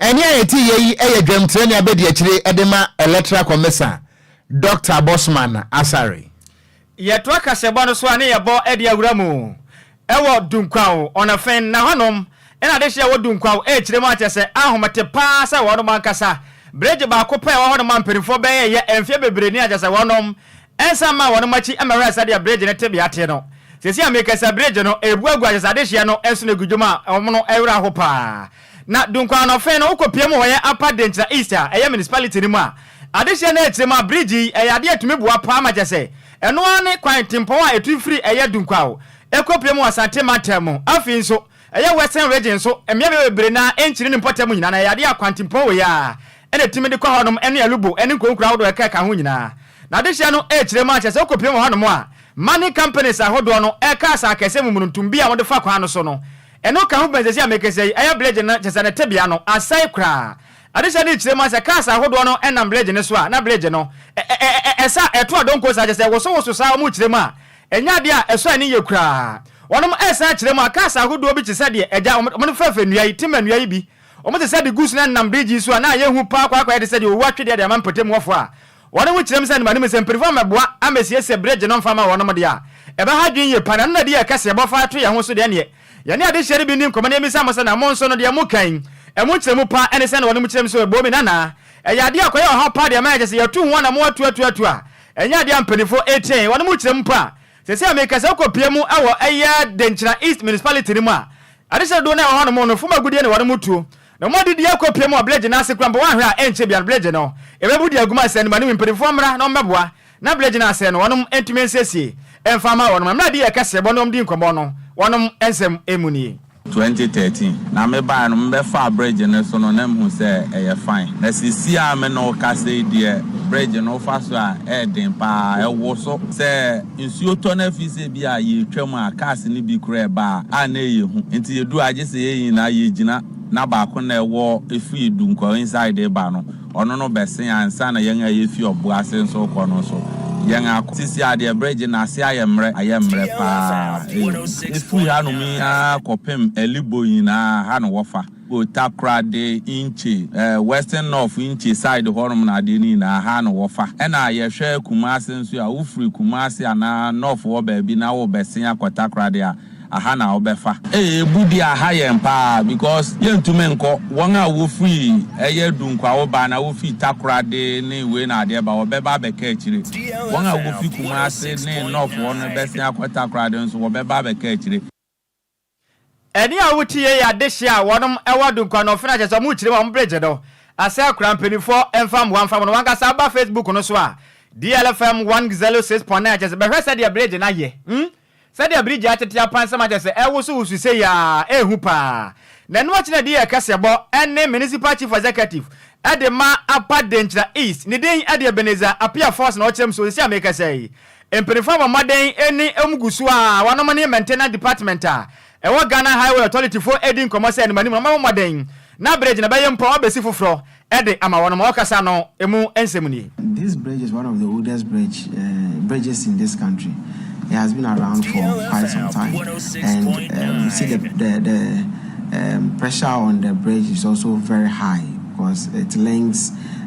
Ɛnne a ɛte yɛ yi yɛ dwamtirani abadiakyire de ma Electoral Commisser Doctor Bossman Asare. Yɛtoa kaseɛbɔ no so a ne yɛbɔ de awura mu wɔ Dunkwaw, Ɔnafen, na hɔnom na adehye a ɛwɔ Dunkwaw rekyerɛ mu akyɛ sɛ ahomete paa sɛ wɔnom ankasa bregye baako pɛ a ɛwɔ hɔnom a mpaninfoɔ bɛyɛɛyɛ mfeɛ bebree ni akyɛ sɛ wɔnom Ɛnsan mmaa wɔn akyi mmɛhwɛɛ sɛdeɛ bregye no tebea te no. Seesei a merekasa bregye no rebu agu ahyɛsɛ adehyeɛ no so no gu dwom a wɔn no werɛ aho pa ara. Na Dunkwa anɔfe no wokɔpue mu wɔ yɛn Upper Denkyira East a ɛyɛ municipality no mu a, adehyeɛ no akyire mu a bregye yi yɛ adeɛ a ɛtumi boa pa ara ma kyerɛ sɛ ɛno ara ne kwan tempɔn a ɛtu firi ɛyɛ Dunkwao ɛkɔpue mu wɔ Asante mantam mu. Afei nso ɛyɛ Western Region nso mmea bebree no ara nkyini ne mpɔtam nyinaa na ɛyɛ adeɛ a kwantempɔn wei ara na etumi de kɔ hɔnom ne Alubo ne nkuronkuro ahodoɔ a ɛka ɛka ho nyinaa. Na adehyeɛ no rekyerɛ mu ara kyerɛ sɛ wokɔpiem wɔ hɔnom a, money companies ahodoɔ no reka asa akɛseɛ mu mununtum bi a wɔde fa kwan no so no. Ɛno ka ho bɛn seesei a mekasa yi, ɛyɛ Bleje no, kyerɛ sɛ ne tebea no asɛe koraa. Adehyeɛ no rekyerɛ mu ara sɛ cars ahodoɔ no nam Bleje no so a, na Bleje no ɛsa, ɛto adonko saa, kyerɛ sɛ ɛwosowoso saa, wɔrekyerɛ mu a, ɛnyɛ adeɛ a ɛsɔ ani yie koraa. Wɔnom resan akyerɛ mu a, cars ahodoɔ bi te sɛ deɛ agya wɔn fɛɛfɛ nnua yi, timber nnua yi bi, Wɔte sɛ degus na nam birigyi so a na ayɛ hu paa kwaakwaayɛ te sɛ deɛ owu atwe deɛ de ama mpɔtamuwɔfoɔ a wɔn ho kyerɛm sɛ nnomanom sɛ mpanyinfoɔ mmɛboa ammɛsiesie bere gye no mfa mma wɔnom deɛ a ɛbɛha adwene yie paa na ɛno na ɛde yɛn kɛseɛ bɔ fa to yɛn ho so deɛ ɛneɛ yɛne adehyeɛ no bi nni nkɔmmɔ na yɛmmisa mo sɛ na mo nso no deɛ moka yi ɛmu nkyerɛmu paa ɛne sɛn na wɔnom kyerɛm sɛ ɛbɔɔ me na na ɛyɛ adeɛ a ɛkɔyɛ ɔhaw paa deɛ ɛma ɛkyɛ sɛ yɛatu ho anammɔn atu atu atu a ɛnyɛ adeɛ a mpanyinfoɔ ɛtia yɛn wɔnom kyerɛm mpo a seesei a merekasa wokɔpia mu wɔ ɛyɛ Denkyira East Municipality no mu a Adesrɛ dodoɔ no a ɛwɔ hɔnom no, fam agudeɛ na wɔde mo tuo, na wɔn adidie akɔ pie mu wɔ Bledgye no ase koraa mpo, woanhwɛ a, ɛnkyɛ biara no Bledgye no ɛbɛbu de agu mo asɛm no mu, anyway mpaninfoɔ mmra na wɔmmɛboa na Bledgye no asɛe no, wɔnom ntumi nsiesie mfa mma wɔnom, na mmerɛ a deɛ ɛka srɛbɔ ne wɔn di nkɔmmɔ no wɔnom nsɛm mu nie. 2013 na me baeɛ no, me bɛfaa Bledgye no so no na me hu sɛ ɛyɛ fine, na sisi a me ne wo kasa yi deɛ Bledgye no wo fa so a ɛyɛ den paa, ɛwoso sɛ nsuo tɔ no afi sɛ. Bi a yɛretwam a cars no bi koraa ɛbaa a na ɛyɛ hu nti yɛduu a gye sɛ yɛn nyinaa yɛgyina na baako na ɛwɔ firi Dunkwa inside reba no ɔno no bɛsen ansa na yɛn a yɛfi Ɔbo ase nso rekɔ no nso yɛn akɔ. Sisi a deɛ bridge no ase ayɛ mmerɛ ayɛ mmerɛ pa ara ɛyɛ hu. Ɛfiri hanom yi ara kɔpem Ɛlibo nyinaa ha na wɔfa. Wɔ Takoradi Intche, ɛɛ Western North Intche side hɔnom na adeɛ no nyinaa, ha na wɔfa. Ɛna yɛhwɛ Kumasi nso a, wofiri Kumasi anaa North hɔ baabi na worebɛsen akɔ Takoradi a, aha na wobɛfa. Ei ebu deɛ aha yɛn paa because yɛntumi nkɔ. Wɔn a wofiri ɛyɛ Dunkuawo ba anaa wofiri Takoradi ne wei na adeɛ ba, wɔbɛba abɛka akyire. Wɔn a wofiri Kumasi ne North hɔ no bɛsen akɔ Takoradi nso, wɔbɛba abɛka akyire. Ɛne a wote yie yɛ adehye a wɔnom ɛwɔ Dunkwa Nɔfe no a kyerɛ sɛ wɔmo kyire mu a wɔmo bere gye do asɛ kora mpaninfoɔ ɛmfa mmoa mfa wɔn wankasa ba Facebook no so a DLFM one xzero six point nine kyerɛ sɛ bɛhwɛ sɛdeɛ bere gye no ayɛ mm sɛdeɛ bere gye atete apansam a kyerɛ sɛ ɛwoso woso sei a ɛɛhu paa na ɛno akyi na ɛde yɛɛ kɛseɛbɔ ɛne Municipal Chief Executive ɛde ma Apa Denkyira East ne din ɛde Ebenezer Appiah Forson ɔkyerɛ mu sɛ seisei a meekasa yi Mpanimfoɔ abɔ mmɔden ne wɔn gu so a wɔnom ne maintenance department a ɛwɔ Ghana Highway Authority foɔ redi nkɔmmɔ sɛ anim anim no wɔn bɛbɔ mmɔden na bridge no bɛyɛ mpo a wɔabɛsi foforɔ de ama wɔnom ɔkasa no mu nsɛm nie. This bridge is one of the oldest bridge bridges in this country it has been around for quite some time and we see the the the pressure on the bridge is also very high because it links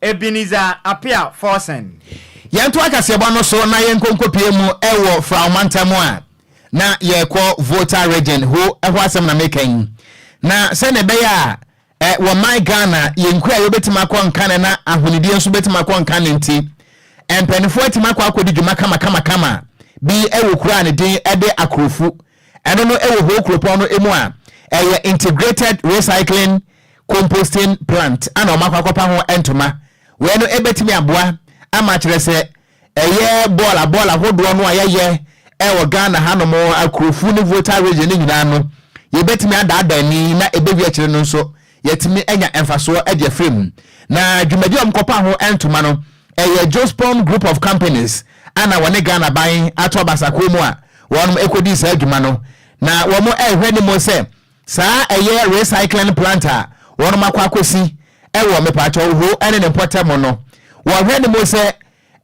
Ebenezer Appiah Forson. Yɛntoa kaseɛbɔ no so na yɛnkɔ nkɔpue mu wɔ Frao mantam mu a na yɛrekɔ Volta Region, ho ɛhɔ asɛm na meka yi. Na sɛdeɛ ɛbɛyɛ a ɛ wɔ my Ghana yɛn nkuraa yɛbɛtumi akɔ nkane na ahonidie nso bɛtumi akɔ nkane nti, mpaninfoɔ atumi akɔ akɔdi dwuma kama kama kama bi wɔ kuro a ne din de Akurofu Ɛno no wɔ Ho kuropɔn no mu a ɛyɛ integrated recycling composting plant a na wɔakɔ akɔpa ho ntoma. Wei no bɛtumi aboa ama kyerɛ sɛ ɛyɛ bɔɔla bɔɔla hodoɔ no a yɛyɛ wɔ Ghana hanom Akurofuo ne Volta region no nyinaa no yɛbɛtumi adaadaa ani na ɛbɛwie akyire no nso Yɛatumi anya mfasoɔ de afiri mu. Na dwumadie a wɔkɔpaa ho ntoma no, ɛyɛ Jospom Group of Companies a na wɔne Ghana aban ato abasakuo mu a wɔnom ɛkɔdii saa dwuma no. Na wɔn ɛrehwɛ anim sɛ saa ɛyɛ recycling plant a wɔnom akɔ akɔsi ɛwɔ Mepatwɔwho ɛne ne mpɔtam no, wɔrehwɛ anim sɛ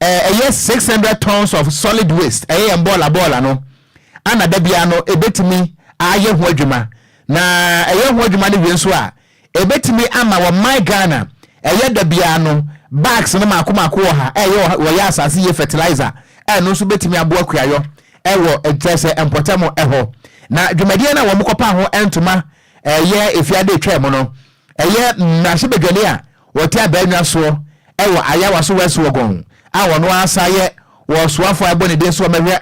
Ɛɛ ɛyɛ six hundred tons of solid waste, ɛyɛ yɛn bɔɔla bɔɔla no, ana da biara no ɛbɛtumi ayɛ ho adwuma, na ɛyɛ ho adwuma no wie nso a, ɛbɛtumi ama wɔ my Ghana, ɛyɛ da biara no bags no maako maako ɔha, ɛyɛ ɔha, wɔyɛ asase yie fertilizer, ɛno nso bɛtumi aboa kuayɔ ɛwɔ kyerɛ sɛ mpɔtam ɛhɔ. Na dwumadie no a wɔkɔpaa ho ntoma ɛyɛ ɛfiada ɛtwaam no, Ɛyɛ mmarahyɛbadwani a ɔte Abaanwa soɔ wɔ Ayawaso West Wuogon a ɔno ara san yɛ ɔsoafoɔ a ɛbɔ ne din sɛ ɔmmɛhwɛ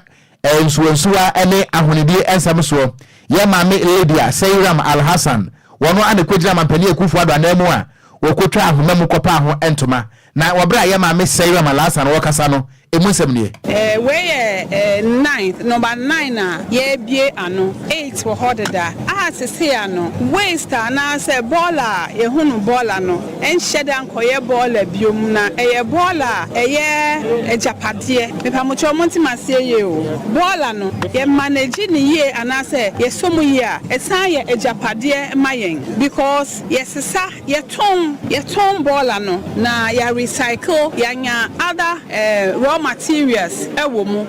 nsuwansuwa ne ahonidie nsɛm soɔ yɛ Maame Lydia Seiram Alhassan. Ɔno ara na ɛkɔgyinaa Mampanin Akuffo-Addo ananmu a ɔkɔtwaa ahoma mu kɔpaa ho ntoma Na wɔ bere a yɛn maame Sayura Malasan no rekasa no, emu nsɛm nie. Eh, wei yɛ eh, ninth, number nine a yɛabue ano. Eight wɔ hɔ deda. A sesei ano, waist anaasɛ bɔɔla a yɛhu no bɔɔla no nhyɛ da nkɔyɛ bɔɔla biom, na ɛyɛ bɔɔla a ɛyɛ agyapadeɛ. Mepamokyɛw monte me aseɛ yie o. Bɔɔla no, yɛ manage no yie anaasɛ yɛsɔ mu yie a, ɛsan yɛ agyapadeɛ ma yɛn because yɛsesa Yɛtɔn yɛtɔn bɔɔla no na yɛ recycle yɛanya other raw materials wɔ mu.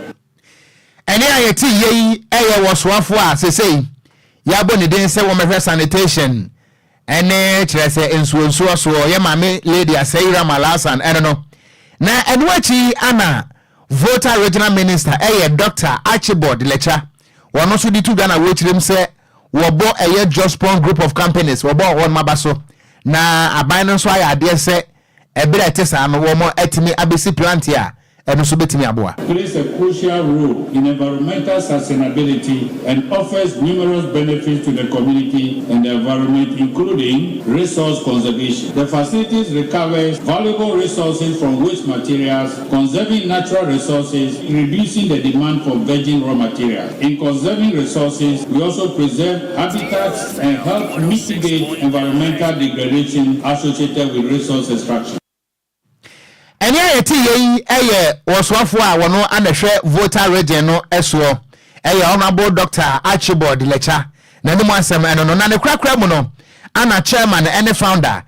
Ɛnne a yɛte yɛ yi yɛ wɔ soafoɔ a sesei yɛabɔ ne din sɛ wɔmmɛhwɛ sanitation ne kyerɛ sɛ nsuonsuo soɔ, yɛ maame Lady Asei Ramal Alsan ɛno no, na ɛno akyi ana Volta Regional Minister yɛ Doctor Archibald Lekya wɔno nso de to dwa na wɔkyerem sɛ wɔbɔ ɛyɛ Jospon Group of Companies wɔbɔ wɔnom aba so na aban no nso ayɛ adeɛ sɛ ɛberɛ a ɛte saa no wɔn atumi abɛsi plant a ɛno nso bɛtumi aboa. plays a crucial role in environmental sustainability and offers numerous benefits to the community and the environment including resource conservation. The facilities recovers valuable resources from waste materials Conserving natural resources, reducing the demand for virgin raw materials. In conserving resources, we also preserve habitats and help mitigate environmental degradation associated with resource extraction. Ɛnne a yɛte yei yɛ wɔ soafoɔ a wɔn na hwɛ Volta Region no soɔ yɛ Honourable Doctor Archibald Lekya, n'anim asɛm ɛno no, na ne korakora mu no, ana Chairman ne Founder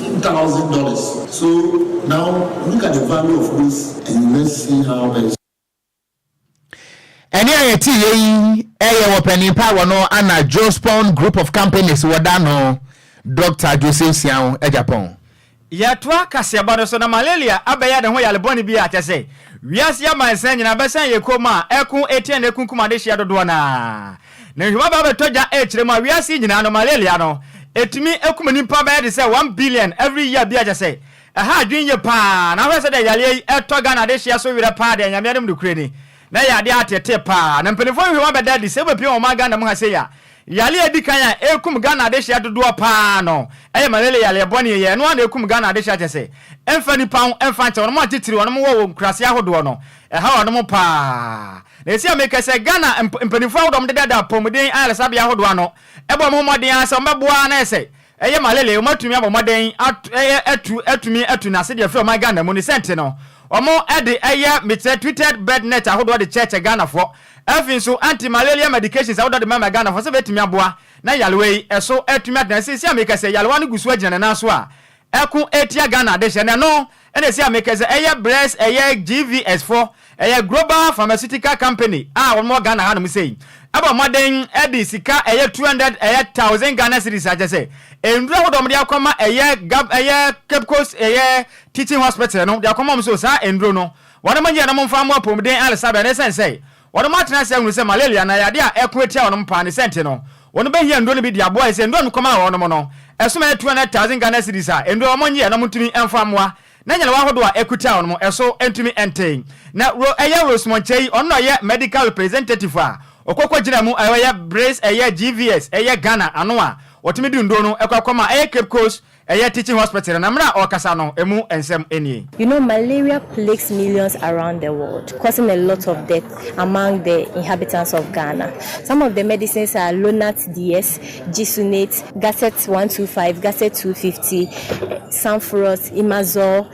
Two thousand dollars so now look at the value of this and let's see how that is. Ɛne a yɛte yɛ yi yɛ wɔ panin pa wɔ no ana Jospon Group of Companies wɔ da no Doctor Joseph Siao Agyapong. Yɛtoa kaseɛbɔ no so na malaria abɛyɛ ne ho yare bɔne bi a kyɛ sɛ wiase amansan nyinaa bɛsan yɛ komm a ɛko atia ne akunkum adehyeɛ dodoɔ no ara. Na nhoma ba bɛtɔ gya ɛkyerɛ mu a wiase yi nyinaa no malaria no ɛtumi ɛkum nipa bɛyɛ de sɛ one billion every year bia kyɛ sɛ ɛha adwene yie paa na wohwɛ sɛdeɛ yareɛ yi ɛtɔ Ghana de hyeɛ so werɛ paa deɛ Nyame anim nokorɛ ni na ɛyɛ adeɛ a atetee paa na mpaninfoɔ nhoma bɛda adi sɛ wobɛpie wɔn man Ghana mu ha sei a yareɛ a ɛdikan a ɛkum Ghana adehyeɛ dodoɔ paa no ɛyɛ malaria yareɛ bɔne ɛyɛ ɛno ara na ɛkum Ghana adehyeɛ kyɛ sɛ ɛmfa nipa ho ɛmfa nkyɛ wɔnom atitire wɔnom wɔ wɔ nkuraseɛ ahodoɔ no Ɛhaw anom paa. Na esi a mekɛ sɛ Ghana mpaninfoɔ ahodoɔ ɔmo deda da apɔmuden ayaresabea ahodoɔ ano bɔ ɔmo ho mmɔden ara sɛ ɔmo bɛboa ara na ayɛ sɛ ɛyɛ malaria ɔmo atumi abɔ mmɔden atu atumi atu no ase de afiri ɔman Ghana mu ne sɛ nti no ɔmo de ɛyɛ mekyerɛ tweeted bed net ahodoɔ de kyɛɛkyɛ Ghanafoɔ afi nso anti malaria medications ahodoɔ de mɛma Ghanafoɔ sɛ bɛtumi aboa na yarewa yi ɛso atumi atena sɛ esi a mekɛ sɛ yarewa no gu so agyina ne nan so a ɛko ɛtia Ghana dehyɛ no ɛno ɛna ɛsi a mekɛ sɛ ɛyɛ brɛs ɛyɛ GVS foɔ ɛyɛ Global Pharmaceutical Company a wɔn wɔ Ghana ha nom sei ɛbɔ mmɔden ɛde sika ɛyɛ two hundred ɛyɛ thousand Ghana cedis akyɛ sɛ nnuro ahodoɔ wɔn de akɔma ɛyɛ Gab ɛyɛ Cape Coast ɛyɛ Teaching Hospital no de akɔma wɔn so saa nnuro no wɔnom nyɛ nom mfa mmɔ apomuden alsabɛ na ɛsɛn sɛ Wɔnom atena ase ahunu sɛ malaria anaa yadeɛ a ɛko atia wɔnom paa ne sɛ nti no wɔnom bɛhia nnuro no bi de aboa ɛsɛ nnuro a mekɔmaa wɔnom no ɛsom ɛyɛ 200,000 Ghana cedis a nnuro a wɔn nyeɛ na wɔn ntumi mfa mmoa na nyarewa ahodoɔ a ɛko tia wɔnom ɛso ntumi nte na ro ɛyɛ Rose Monkyei ɔno na ɔyɛ medical representative a ɔkɔ kɔ gyina mu ɛyɛ Brees ɛyɛ GVS ɛyɛ Ghana ano a wɔtumi de nnuro no ɛkɔ akɔma ɛyɛ Cape Coast Ɛyɛ teaching hospital na mmerɛ a ɔrekasa no ɛmu nsɛm nie. You know malaria plagues millions around the world causing a lot of death among the inhabitants of Ghana. Some of the medicines are Lonart DS, Jisunate, Gaset one two five, Gaset two fifty, Sanforot, Imazole,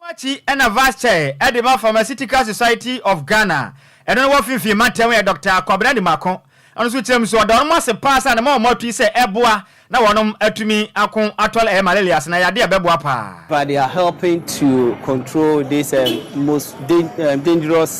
Ɛno akyi na Vice Chair de ma Pharmaceutical Society of Ghana, ɛno no wɔ Finfin Mantam yɛ Dɔkta Kwabena Nimako, ɔno nso kyerɛm so ɔda wɔnom ase paa sɛ anamɔn a wɔn atui sɛ ɛboa na wɔnom atumi ako atɔl ɛyɛ Malarias na yadeɛ a ɛbɛboa paa. But they are helping to control this most dangerous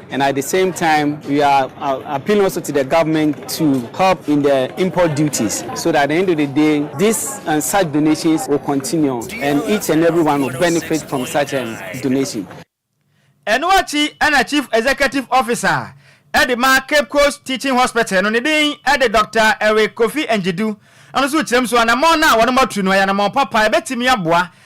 And at the same time we are appealing also to the government to help in the import duties so that at the end of the day this and such donations will continue and each and everyone will benefit from such a donation. Ɛno akyi na Chief Executive Officer de ma Cape Coast Teaching Hospital no ne din de Doctor Eric Kofi Njedu. Ɛno nso kyerɛm so anammɔn no a wɔnom atu no ɛyɛ anammɔn papa a ɛbɛtumi aboa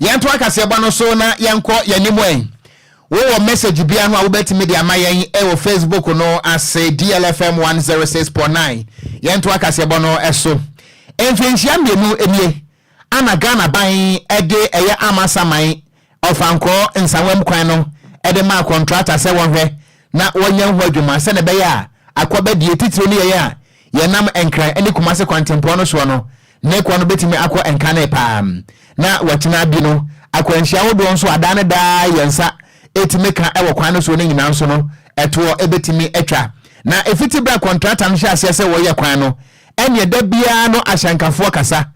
Yɛntoa kaseɛbɔ no so na yɛnkɔ yɛn anim ɛ. Wowɔ message biara ho a wobɛtumi de ama yɛn wɔ Facebook no ase, DLFM 106.9. Yɛntoa kaseɛbɔ no so. Mfirinhyia mmienu nie a na Ghana ban de ɛyɛ amasaman ɔfankɔɔ nsawam kwan no de maa kɔntrata sɛ wɔnhwɛ na wɔnyɛ ho adwuma sɛdeɛ ɛbɛyɛ a akwabadie titiriw no yɛyɛ a Yɛnam Nkran ne Kumase kwantempɔn no soɔ no, ne kwan no bɛtumi akɔ Nkane paa, na watena bi no, akwanhyia ahodoɔ nso a daa ne daa yɛn nsa tumi ka wɔ kwan no soɔ no nyinaa nso no, ɛtoɔ bɛtumi atwa. Na ɛfiti berɛ a kɔntrata no hyɛɛ aseɛ sɛ wɔyɛ kwan no, ɛnneɛ da biara no ahyɛnkafoɔ kasa,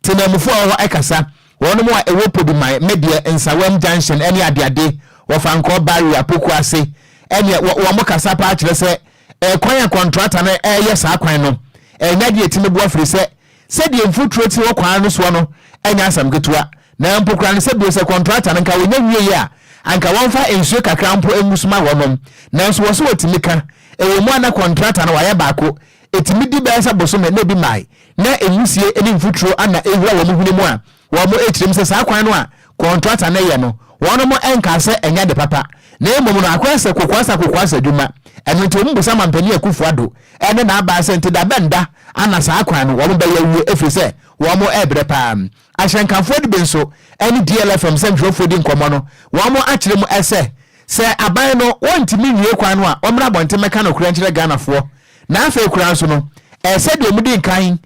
temanmufoɔ a wɔwɔ hɔ kasa, wɔnom a ɛwɔ Poduman, Medeɛ, Nsawam Junction ne adeade, Wɔfankɔɔ Barrier, Pokuase, ɛnneɛ wɔ wɔn kasa paa kyerɛ sɛ Ɛkwan a kɔntrata no reyɛ saa kwan no nyɛ ade a etumi boa firisɛ sɛdeɛ mfuturo te wɔ kwan no soɔ no nyɛ asɛm ketewa na mpo koraa no sɛ bio sɛ kɔntrata no nka ɔnya wieɛ a anka wɔmfa nsuo kakra mpo ngu so ma wɔnom nanso wɔse wɔtumi ka ɛwɔ mu a na kɔntrata no wɔayɛ baako ɛtumi di bɛyɛ sɛ bosome na ebi mae na nwisie ne mfuturo ana ɛwura wɔn hwene mu a Wɔn tirim sɛ saa kwan no a kɔntrata no yɛ no, wɔnom nkaa sɛ ɛnyɛ ade papa, na mmom no akoraa sɛ kokoasa kokoasa adwuma. Ɛno nti wɔn bisa Mampanin Akuffo Addo ne n'abaa sɛ nti da bɛn da ana saa kwan no wɔn bɛyɛ awie ɛfiri sɛ wɔn ɛbrɛ paa. Ahyɛnkafoɔ no bi nso ne DLFM sɛntwerɛfoɔ di nkɔmmɔ no, wɔn akyerɛ mu sɛ sɛ aban no wɔntumi nwie kwan no a wɔmmra abɔnten mmɛka nokorɛ nkyerɛ Ghanafoɔ. Na afei koraa nso no, ɛyɛ sɛ deɛ wɔdi nkan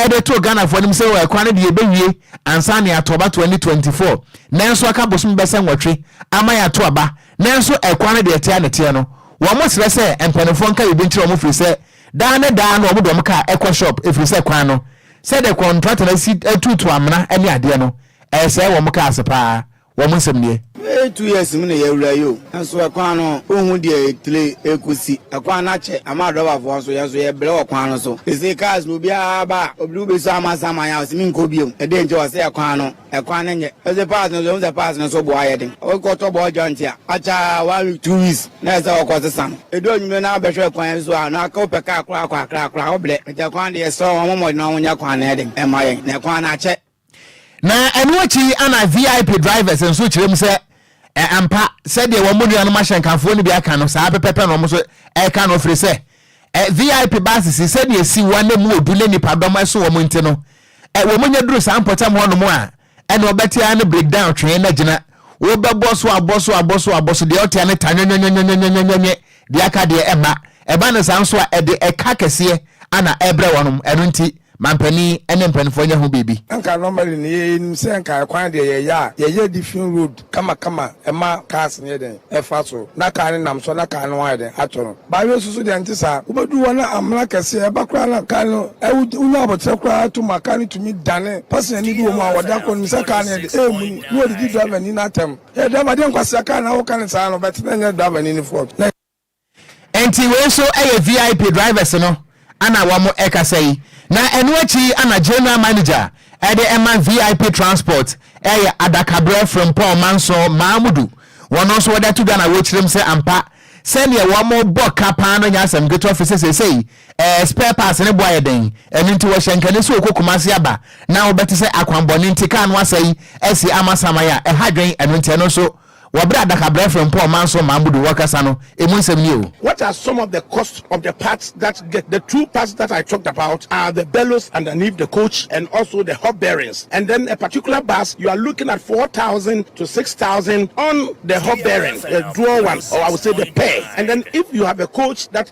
de too Ghanafoɔ anim sɛ oh ɛkwan no deɛ yɛbɛwie ansa na yɛato aba twenty twenty four, nanso aka bosome bɛsɛ nwɔtwe ama yɛato aba, nanso ɛkwan no deɛ ɛte a na ɛteɛ no. Wɔsrɛ sɛ mpaninfoɔ nka biribi nkyerɛ wɔn firi sɛ daa ne daa no wɔde wɔn kaa ɛkɔ shop ɛfiri sɛ kwan no sɛdeɛ kɔntrata no asi tuutu amena ne adeɛ no ɛyɛ sɛɛ wɔn kaa ase pa ara. Wɔn nsɛm nie. Bɛyɛ two years mu na yɛawura yi o, nanso ɛkwan no wonhu deɛ etire ɛkɔsi. Ɛkwan no akyɛ ama adɔbafoɔ nso, yɛn nso yɛbrɛ wɔ kwan no so. Sesei cars no obiara ba a, obi de wo bɛsi ama saman a ɔse menkɔ biom. Ɛdeɛn nti? Ɔse ɛkwan no, ɛkwan no nyɛ. Ɔse parts no nso, yɛhu sɛ parts no nso bo ayɛ den. Wokɔtɔ ball joint a, akyɛ ara one week, two weeks na ɛsɛ sɛ wokɔsesa no. Ɛdu anwumerɛ na wobɛhwɛ kwan yi so a, na aka wopɛ car koraa akɔ akra koraa, wobrɛ. Nti ɛkwan deɛ yɛsrɛ wo, wɔmmɔ mmɔden na wɔnyɛ kwan no den mma yɛn, na ɛkwan no akyɛ. Na ɛno akyi yi ana VIP drivers nso kyerɛ mu sɛ ɛ ampa sɛdeɛ wɔn nuanom ahyɛnkafoɔ no bi aka no saa pɛpɛpɛ na wɔn nso ɛreka no firi sɛ ɛ VIP buses yi sɛdeɛ ɛsi wɔn na mu odu ne nipadɔm ɛso wɔn nti no ɛ wɔn nya duru saa mpɔtam hɔnom a ɛna ɔbɛte ara no breakdown twee na gyina wobɛbɔ so abɔ so abɔ so abɔ so deɛ ɔte ara no ta nwɛnwɛnwɛnwɛnwɛnwɛnwɛ Deɛ aka deɛ ɛmma. Ɛba no saa nso a, ɛde ɛka kɛseɛ ana ɛbrɛ wɔnom. Ɛno nti, ma mpanin ne mpanimfoɔ nyɛ ho biribi. Anka normally no yɛnim sɛ anka ɛkwan deɛ yɛyɛ a yɛyɛ different road kama kama ɛma cars no yɛ dɛn ɛfa so na car no nam so na car no ayɛ dɛn atɔ no but wei soso deɛ ɛnte saa wobɛduru hɔ na amena kɛseɛ ɛba koraa na car no wonya aboterɛ koraa to ma car no tumi dane passenger ni bi wɔ mu a wɔda kɔ no nim sɛ car no yɛ dɛn ɛremuni na wɔdidi driver ni no atɛm Yɛ driver deɛ nkwasea car na woka ne saa no but na nyɛ driver ni ne fault na. Ɛnti wei nso ɛyɛ VIP drivers no ana wɔn ɛkasa yi na ɛno akyiri ana General Manager ɛde ɛma VIP transport ɛyɛ Adakaberɛ Frimpong Mansour Mamudu wɔn nso wɔde ato dwa na wɔkyerɛm sɛ ampa sɛdeɛ wɔn bɔ ka paa no nyɛ asɛm ketewa fisɛ seisei Ɛɛ, spare parts no bo ayɛ den, ɛno nti wɔhyɛ nkane sɛ ɔkɔ Kumasi aba na wobɛte sɛ akwammɔne nti kaa no asɛe asi amasaman a, ɛha dwen, ɛno nti ɛno nso wɔbrɛ adakabrɛ Frimpong Manso Mamudu wɔkasa no ɛmu nsɛm nie o. What are some of the cost of the parts that get the two parts that I talked about are the bellows underneath the coach and also the hub bearings and then a particular bus you are looking at four thousand to six thousand on the hub bearing the dual one or I would say the pair and then if you have a coach that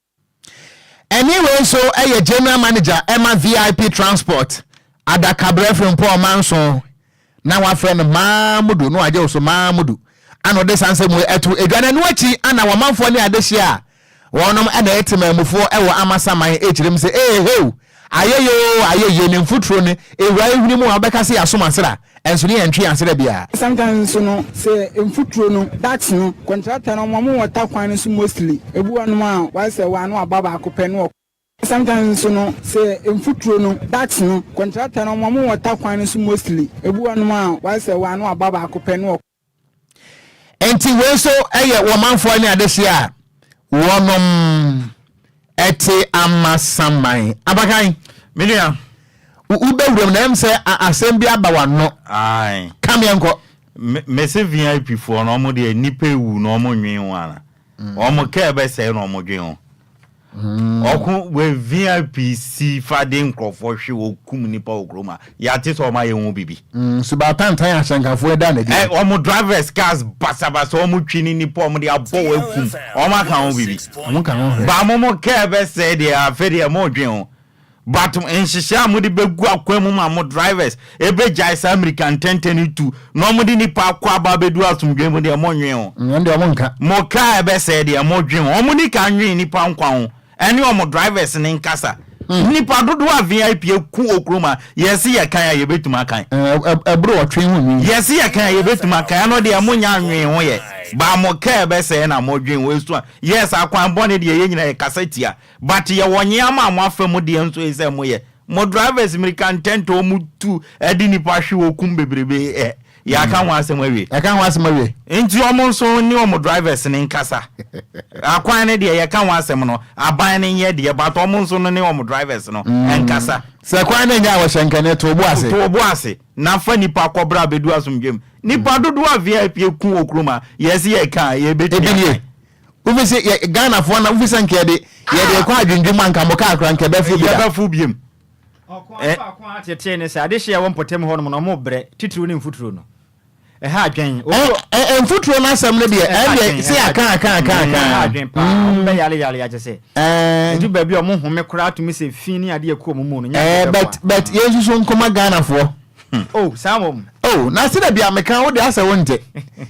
Ɛne wei nso yɛ General Manager ma VIP Transport, adakaberɛ Frimpong Manson, na wɔafrɛ no Maamudu, na wagye wo so Maamudu, ana ɔde saa nsɛm wei ato adwa, na ɛno akyi ana wɔn manfoɔ ne adehyeɛ a wɔnom na ɛyɛ temaamufoɔ wɔ Amasaman ɛkyerɛm sɛ ee heo, Ayɛyɛ oo ayɛyie ne mfuturo no ɛwura yɛn hwene mu a wobɛka sɛ yɛasom asra nso ne yɛntwe yɛn asra biara. Sanka nso no sɛ mfuturo no, ducks no, kɔntrata no wɔn wɔ ta kwan no so mostly. Ɛbi wɔ nom a wayɛ sɛ wɔ ano aba baako pɛ ne wɔkɔ. Sanka nso no sɛ mfuturo no, ducks no, kɔntrata no wɔn wɔ ta kwan no so mostly. Ɛbi wɔ nom a wayɛ sɛ wɔ ano aba baako pɛ ne wɔkɔ. Enti wei nso yɛ wɔn manfoɔ ne adehyeɛ a wɔnom te amasaman. Abakan. Me nua. Wobɛwuram na ɛm sɛ asɛm bi aba w'ano. Ae. Ka meɛ nkɔ. Mese VIP foɔ no wɔn deɛ nnipa ewu na wɔn nwen ho ana? Wɔn kaa ɛbɛsɛe na wɔn dwen ho. Ɔko wɔ VIP si fa de nkurɔfoɔ hwe wɔ kum nipa wɔ kurom a yɛate sɛ ɔma yɛ ho bibi. Mm, so ba tantan ahyɛnkafoɔ ɛda na di. Eh, ɔmo drivers cars basabasa ɔmo twi ne nipa ɔmo de abɔ wɔ akum ɔmo aka ho bibi. Ɔmo ka ho hwɛ. Ba mo mo kɛɛ bɛ sɛɛ deɛ afɛ deɛ mo dwen ho But nhyehyɛɛ a mode bɛgu akwan mu ma mo drivers bɛgyae saa mmirika ntɛntɛ no tu na wɔde nnipa akɔ aba abɛduru asomdwoe mu deɛ monnwen ho. Ɛno deɛ wɔnka. Mo car ɛbɛsɛe deɛ modwen ho. Wɔn nika nnwen nnipa nkwa ho ɛne wɔn drivers no nkasa. Nnipa dodoɔ a VIP aku okurom a yɛse yɛkan a yɛbɛtumi akan. Ɛboro ɔtwe ho nwi. Yɛse yɛkan a yɛbɛtumi akan ɛno deɛ monnya nnwen ho yɛ. But mo car ɛbɛsɛe na modwen ho ɛsua. Yes akwan bɔne deɛ yɛn nyinaa yɛkasa tia But yɛwɔ nyeama a moafa mu deɛ nso esɛ moyɛ. Mo drivers mmirika ntɛntɛ ɔmo tu ɛde nipa hwe ɔkum bebrebe ɛ yɛaka ho asɛm awie. Yɛaka ho asɛm awie. Nti ɔmo nso ne ɔmo drivers no nkasa. Akwan no deɛ yɛka ho asɛm no aban no nyɛ deɛ but ɔmo nso no ne ɔmo drivers no nkasa. Sɛ kwan no nyɛ a wɔhyɛ nkɛne to ɔbo ase. To ɔbo ase na fa nipa kɔ bra bɛdu asomdwem. Nipa dodoɔ a vip ku wɔ kurom ha yɛse yɛka a yɛbɛtumi akan. Wofi se yɛ Ghanafoɔ na wofi sɛ nka yɛde yɛde rekɔ adwendwem a nka mo kaa koraa nka ɛbɛfo bi da. Yɛbɛfo biom. Ɔko a ɛfa ko a tetee ne sɛ adehyeɛ a ɛwɔ mpɔtam hɔnom no wɔbrɛ titiriw ne mfuturo no. Ɛha adwene. Obi wɔ. Ɛ ɛ mfuturo no asɛm no deɛ ɛha ɛndeɛ adwene se ɛha yɛaka adwene aka aka mm aka ɛha a. adwene paa wɔn Mm. bɛyare yare akyɛ sɛ Ɛɛ. edu baabi a wɔn home koraa tumi sɛ fi ne adeɛ kɔ wɔn mu no nyɛ adeɛ Ɛɛ bɛboa but but mm. yɛnsusu nkɔma Ghanafoɔ. Hmm. Oh, saa wɔm. Oh, na sɛ dabi a meka wo de asɛ wo nte.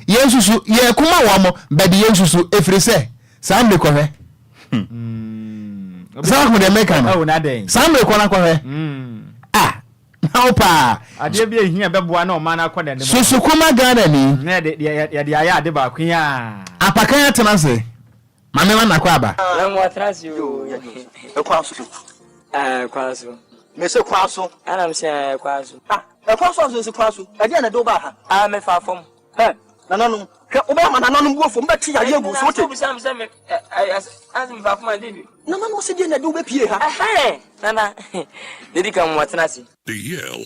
Yɛn susu, yɛn kuma wɔn mo, bɛde yɛn susu, efiri sɛ, saa mmiri kɔhwɛ. Hmm. Saa ho deɛ meka no. Oh, na dɛn. Saa mmiri kɔ na kɔhwɛ. Hmm. Ah, na wo paa. Adeɛ bi ehia bɛboa na ɔman akɔ n'anim. Susu kuma Ghana ni. Na yɛde yɛde ayɛ ade baako yi a. Apakan atena se. Maame wa na kɔ aba. Maame wa tena ase yoo. Ɛkwan so. Ɛɛ ɛkwan so. Mese kwan so. Ɛna m sɛ ɛkwan so. Ah ɛkwan so aso si kwan so. Ɛdeɛ na ɛde wo ba ha. Ah mefa fam. Hɛ nananom hwɛ wobɛyɛ ma nananom bu ofo mbɛte yadeɛ agu so wote. Nananom sɛ deɛ na ɛde wobɛpie ha. Nana didi kan mu atena ase. The Yale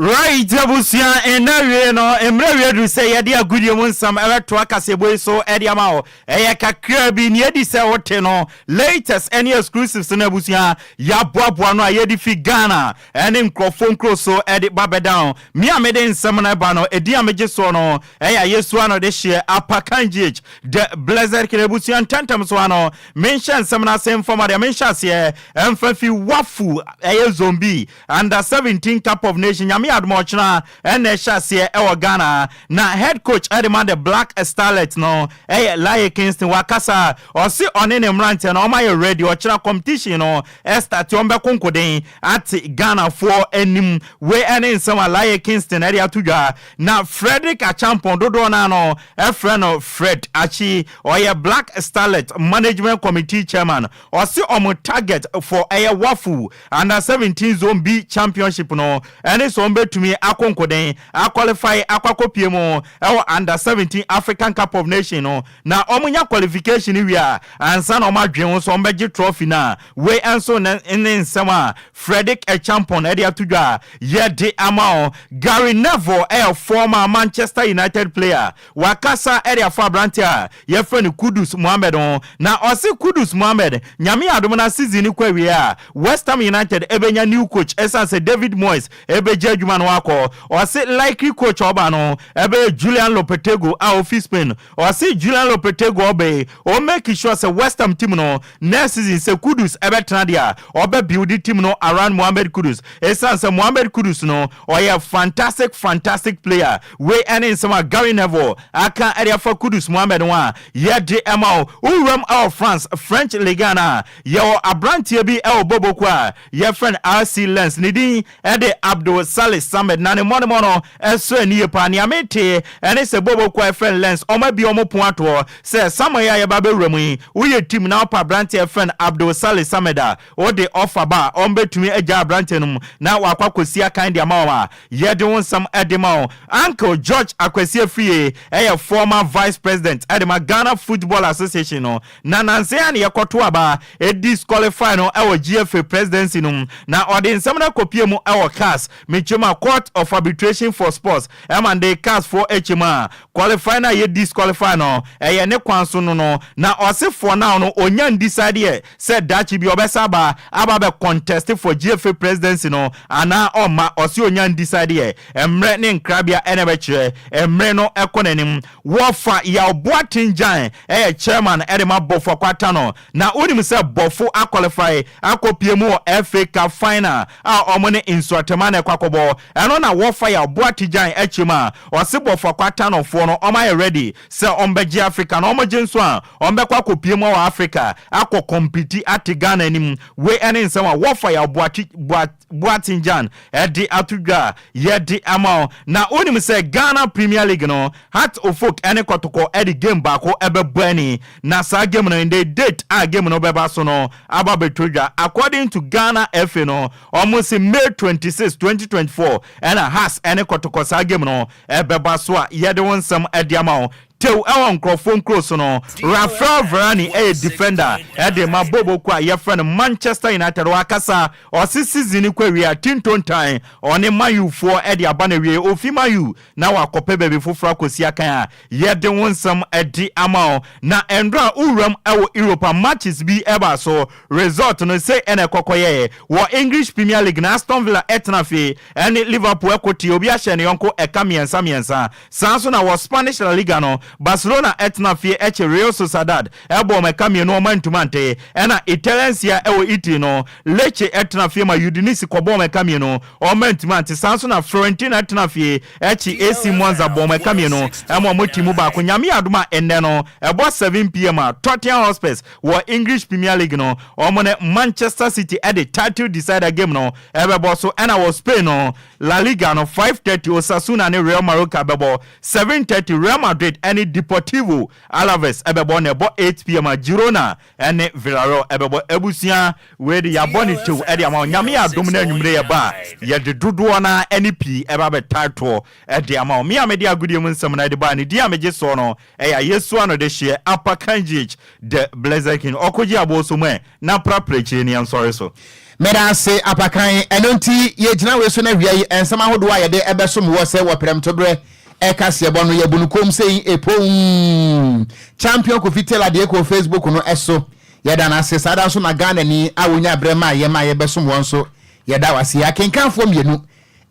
Wright abusua, nna awiei no, mmerɛ awie aduru sɛ yɛde agodie mu nsɛm bɛtoa kaseɛbɔ yi so de ama wo. Ɛyɛ kakraa bi, nea adi sɛ wote no, latest ne exclusives no abusua, yɛaboaboa ano a yɛde fi Ghana ne nkurɔfoɔ nkuro so de ba bɛda wo. Me a mede nsɛm no reba no, edin a megye soɔ no yɛ Ayesua no dehyeɛ, Apakan GH, The Blessed King abusua. Ntɛmntɛm so ara no, menhyɛ nsɛm no ase mfa ma deɛ menhyɛ aseɛ mfa fi Wafu, ɛyɛ Zombi. Under seventeen cup of nation nyame yɛ adom a ɔkyena ɛna ɛhyɛ aseɛ ɛwɔ Ghana na head coach ɛde ma the black starlet no ɛyɛ Laye Kingston wakasa ɔse ɔne ne mmranteɛ no ɔmayɛ ready ɔkyena competition no ɛstarte ɔmo bɛko nkoden ate Ghana foɔ anim wei ɛne nsɛm a Laye Kingston ɛde ato dwa na Fredrick Acheampong dodoɔ naa no ɛfrɛ no Fred Akyi ɔyɛ black starlet management committee chairman ɔse ɔmo target for ɛyɛ Wafu Under seventeen Zone B Championship no ne sɛ wɔbɛtumi akɔ nkoden, a qualify akɔ akɔpue mu wɔ Under seventeen African Cup of Nations no, na wɔnya qualification no wie a, ansa na wɔadwene ho sɛ wɔbɛgye trophy no a. Wei nso ne ne nsɛm a Fredrick Acheampong de ato dwa a yɛde ama wo. Gary Neville yɛ former Manchester United player. Wakasa de afa aberanteɛ a yɛfrɛ no Kudus Mohammed ho na ɔse Kudus Mohammed Nyame adom na season no kɔ awieɛ a West Ham United bɛnya new coach ɛsiane sɛ David Moyes bɛgya adwuma no akɔ. Ɔse likely coach a ɔba no bɛyɛ Julian Lopetegui a ɔfiri Spain. Ɔse Julian Lopetegui ɔba yi ɔ make sure sɛ West Ham team no next season sɛ Kudus bɛtena deɛ a ɔbɛ build team no around Mohammed Kudus ɛsiane sɛ Mohammed Kudus no ɔyɛ fantastic fantastic player. Wei ne nsɛm a Gary Neville aka de afa Kudus Mohammed ho a yɛde ma wo. Wo wuram wɔ France, French Ligue 1 a, yɛwɔ aberanteɛ bi wɔ Bobo kuo a yɛfrɛ no RC Lens. Ne din de Abdul Salih Samed na ne mmɔdemmɔ no so ani ye paa. Nea metee ne sɛ Bobo kuo a yɛfrɛ no Lens, wɔabue wɔn pon ato hɔ sɛ, Summer yi a yɛreba abɛwura mu yi, woyɛ team na wopɛ aberanteɛ a yɛfrɛ no Abdul Salih Samed a, Wode ɔfa ba a, wɔbɛtumi agyaa aberanteɛ no mu na wɔakɔ akɔsi akan de ama wɔn a, yɛde wo nsɛm de ma wo. Uncle George Akwasi Afriye yɛ former Vice President de ma Ghana Football Association no, na nansa yi ara na yɛkɔtoo aba disqualify no wɔ GFA Presidency no mu, na ɔde nsɛm no akɔpue mu wɔ CAS, mekyerɛ mu a, Court of Arbitration for Sports, ma no de CAS foɔ kyɛ mu a, qualify no a yɛ disqualify no, ɛyɛ ne kwan so no no, na ɔse for now no, ɔnya nndecide yɛ. sɛ daakye bi ɔbɛsan aba aba abɛ contest for GFA presidency no anaa ɔmma, ɔse ɔnya n-decide yɛ, mmerɛ ne nkrabea na ɛbɛkyerɛ, mmere no kɔ n'anim. Wɔfa Yaw Boateng Gyan yɛ chairman de ma Bɔfo Akwata no, na wonim sɛ Bɔfo a qualify akɔ pie mu wɔ FA Cup final a wɔn ne Nsuatɛma na ɛkɔ akɔbɔ, ɛno na wɔfa Yaw Boate Gyan kyerɛ mu a, ɔse Bɔfo Akwata no foɔ no wɔayɛ ready Sɛ wɔbɛgye Africa na wɔgye nso a, wɔbɛkɔ akɔpue mu wɔ Africa akɔ kɔmpiti ate Ghana anim. Wei ne nsɛm a wɔfa Yaw Boakye, Boa, Boateng Jan de ato dwa a yɛde ama wo. Na wonim sɛ Ghana Premier League no, Hearts Ofok ne Kɔtɔkɔ de game baako bɛbɔ ani. Na saa game no, ndɛ date a game no bɛba so no aba abɛtɔ dwa. According to Ghana FA no, wɔse May twenty six, twenty twenty four na Hearts ne Kɔtɔkɔ saa game no Ɛbɛba so a yɛde wo nsɛm de ama wo. Tew wɔ nkurɔfoɔ nkuro so no, Raphael Varane yɛ defender de rema Bobo kuo a yɛfrɛ no Manchester United. Ɔakasa, ɔse season no kɔ awiei a, tintontan ɔne Man U foɔ de aba no awiei. Ofi Man U na wakɔpɛ baabi foforɔ akɔsi akan a, yɛde wo nsɛm de ama wo. Na nnora a wowuram wɔ Europe a matches bi baa so, result no sei na ɛkɔ kɔyɛeɛ. Wɔ English Premier League no, Aston Villa tena fie. Ɛne Liverpool ɛko ti, obi ahyɛ ne yɔnko ɛka mmiɛnsa mmiɛnsa. Saa nso na wɔ Spanish La Liga no, Barcelona ɛtena fie ɛkye Real Sociedad ɛbɔ wɔn ɛka mmienu wɔn antumi ante. Ɛna Italian Serie A wɔ Italy no, Lecce ɛtena fie ma Udinese kɔbɔ wɔn ɛka mmienu wɔn antumi ante. Saa nso na Fiorentina ɛtena fie ɛkye AC Monza bɔ wɔn ɛka mmienu ɛma wɔn ti mu baako. Nyame yɛ adom a ɛnnɛ no ɛbɔ seven pm a, Tottenham Hotspurs wɔ English Premier League no, wɔn ne Manchester City ɛde title decider game no Ɛbɛbɔ so ɛna wɔ Spain no, La Liga no, five thirty Osasuna ne Real Mallorca bɛbɔ, seven thirty Real Madrid ɛne Deportivo Alaves bɛbɔ na ɛbɔ eight pm a Girona ɛne Villarreal bɛbɔ. Abusua wei de yɛabɔ no tew de ama wo, Nyame yɛ adom na anwumerɛ yɛba a yɛde dodoɔ no ara ne pii ɛba abɛtae toɔ de ama wo. Me a mede agodie mu nsɛm no ara de baeɛ no, din a megye soɔ no Ɛ ya yɛ sua no de hyeɛ apa kan jiec dɛ blɛzɛ kin ɔ ko ji abɔ so mɛ na pra prɛ kie ni ɛ nsɔre so. Meda ase apa kan, ɛno nti yɛ gyina wei so na wia yi nsɛm ahodoɔ a yɛde ɛbɛ som wɔ sɛ wɔ prɛmtoberɛ ɛ kaseɛ bɔ no yɛ bu no komm sei epomm Champion Kofi Taylor deɛ ɛkɔ Facebook no so yɛ da no ase saa da nso na Ghanani a ɔnya berɛ ma yɛ ma yɛ bɛ som wɔn nso yɛ da wo ase yɛ akenkanfoɔ mmienu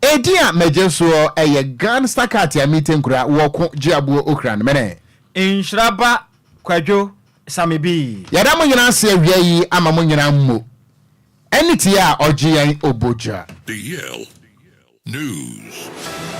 Edin a megye soɔ yɛ Gan Sakati Amite Nkura wɔ Ko Gyeabuo Okran Mene. Nhyira ba Kwadwo Samebii. Yɛda mo nyinaa ase awia yi ama mo nyinaa mmo ɛne tie a ɔgye yɛn ɔbɔgya. Diyel News.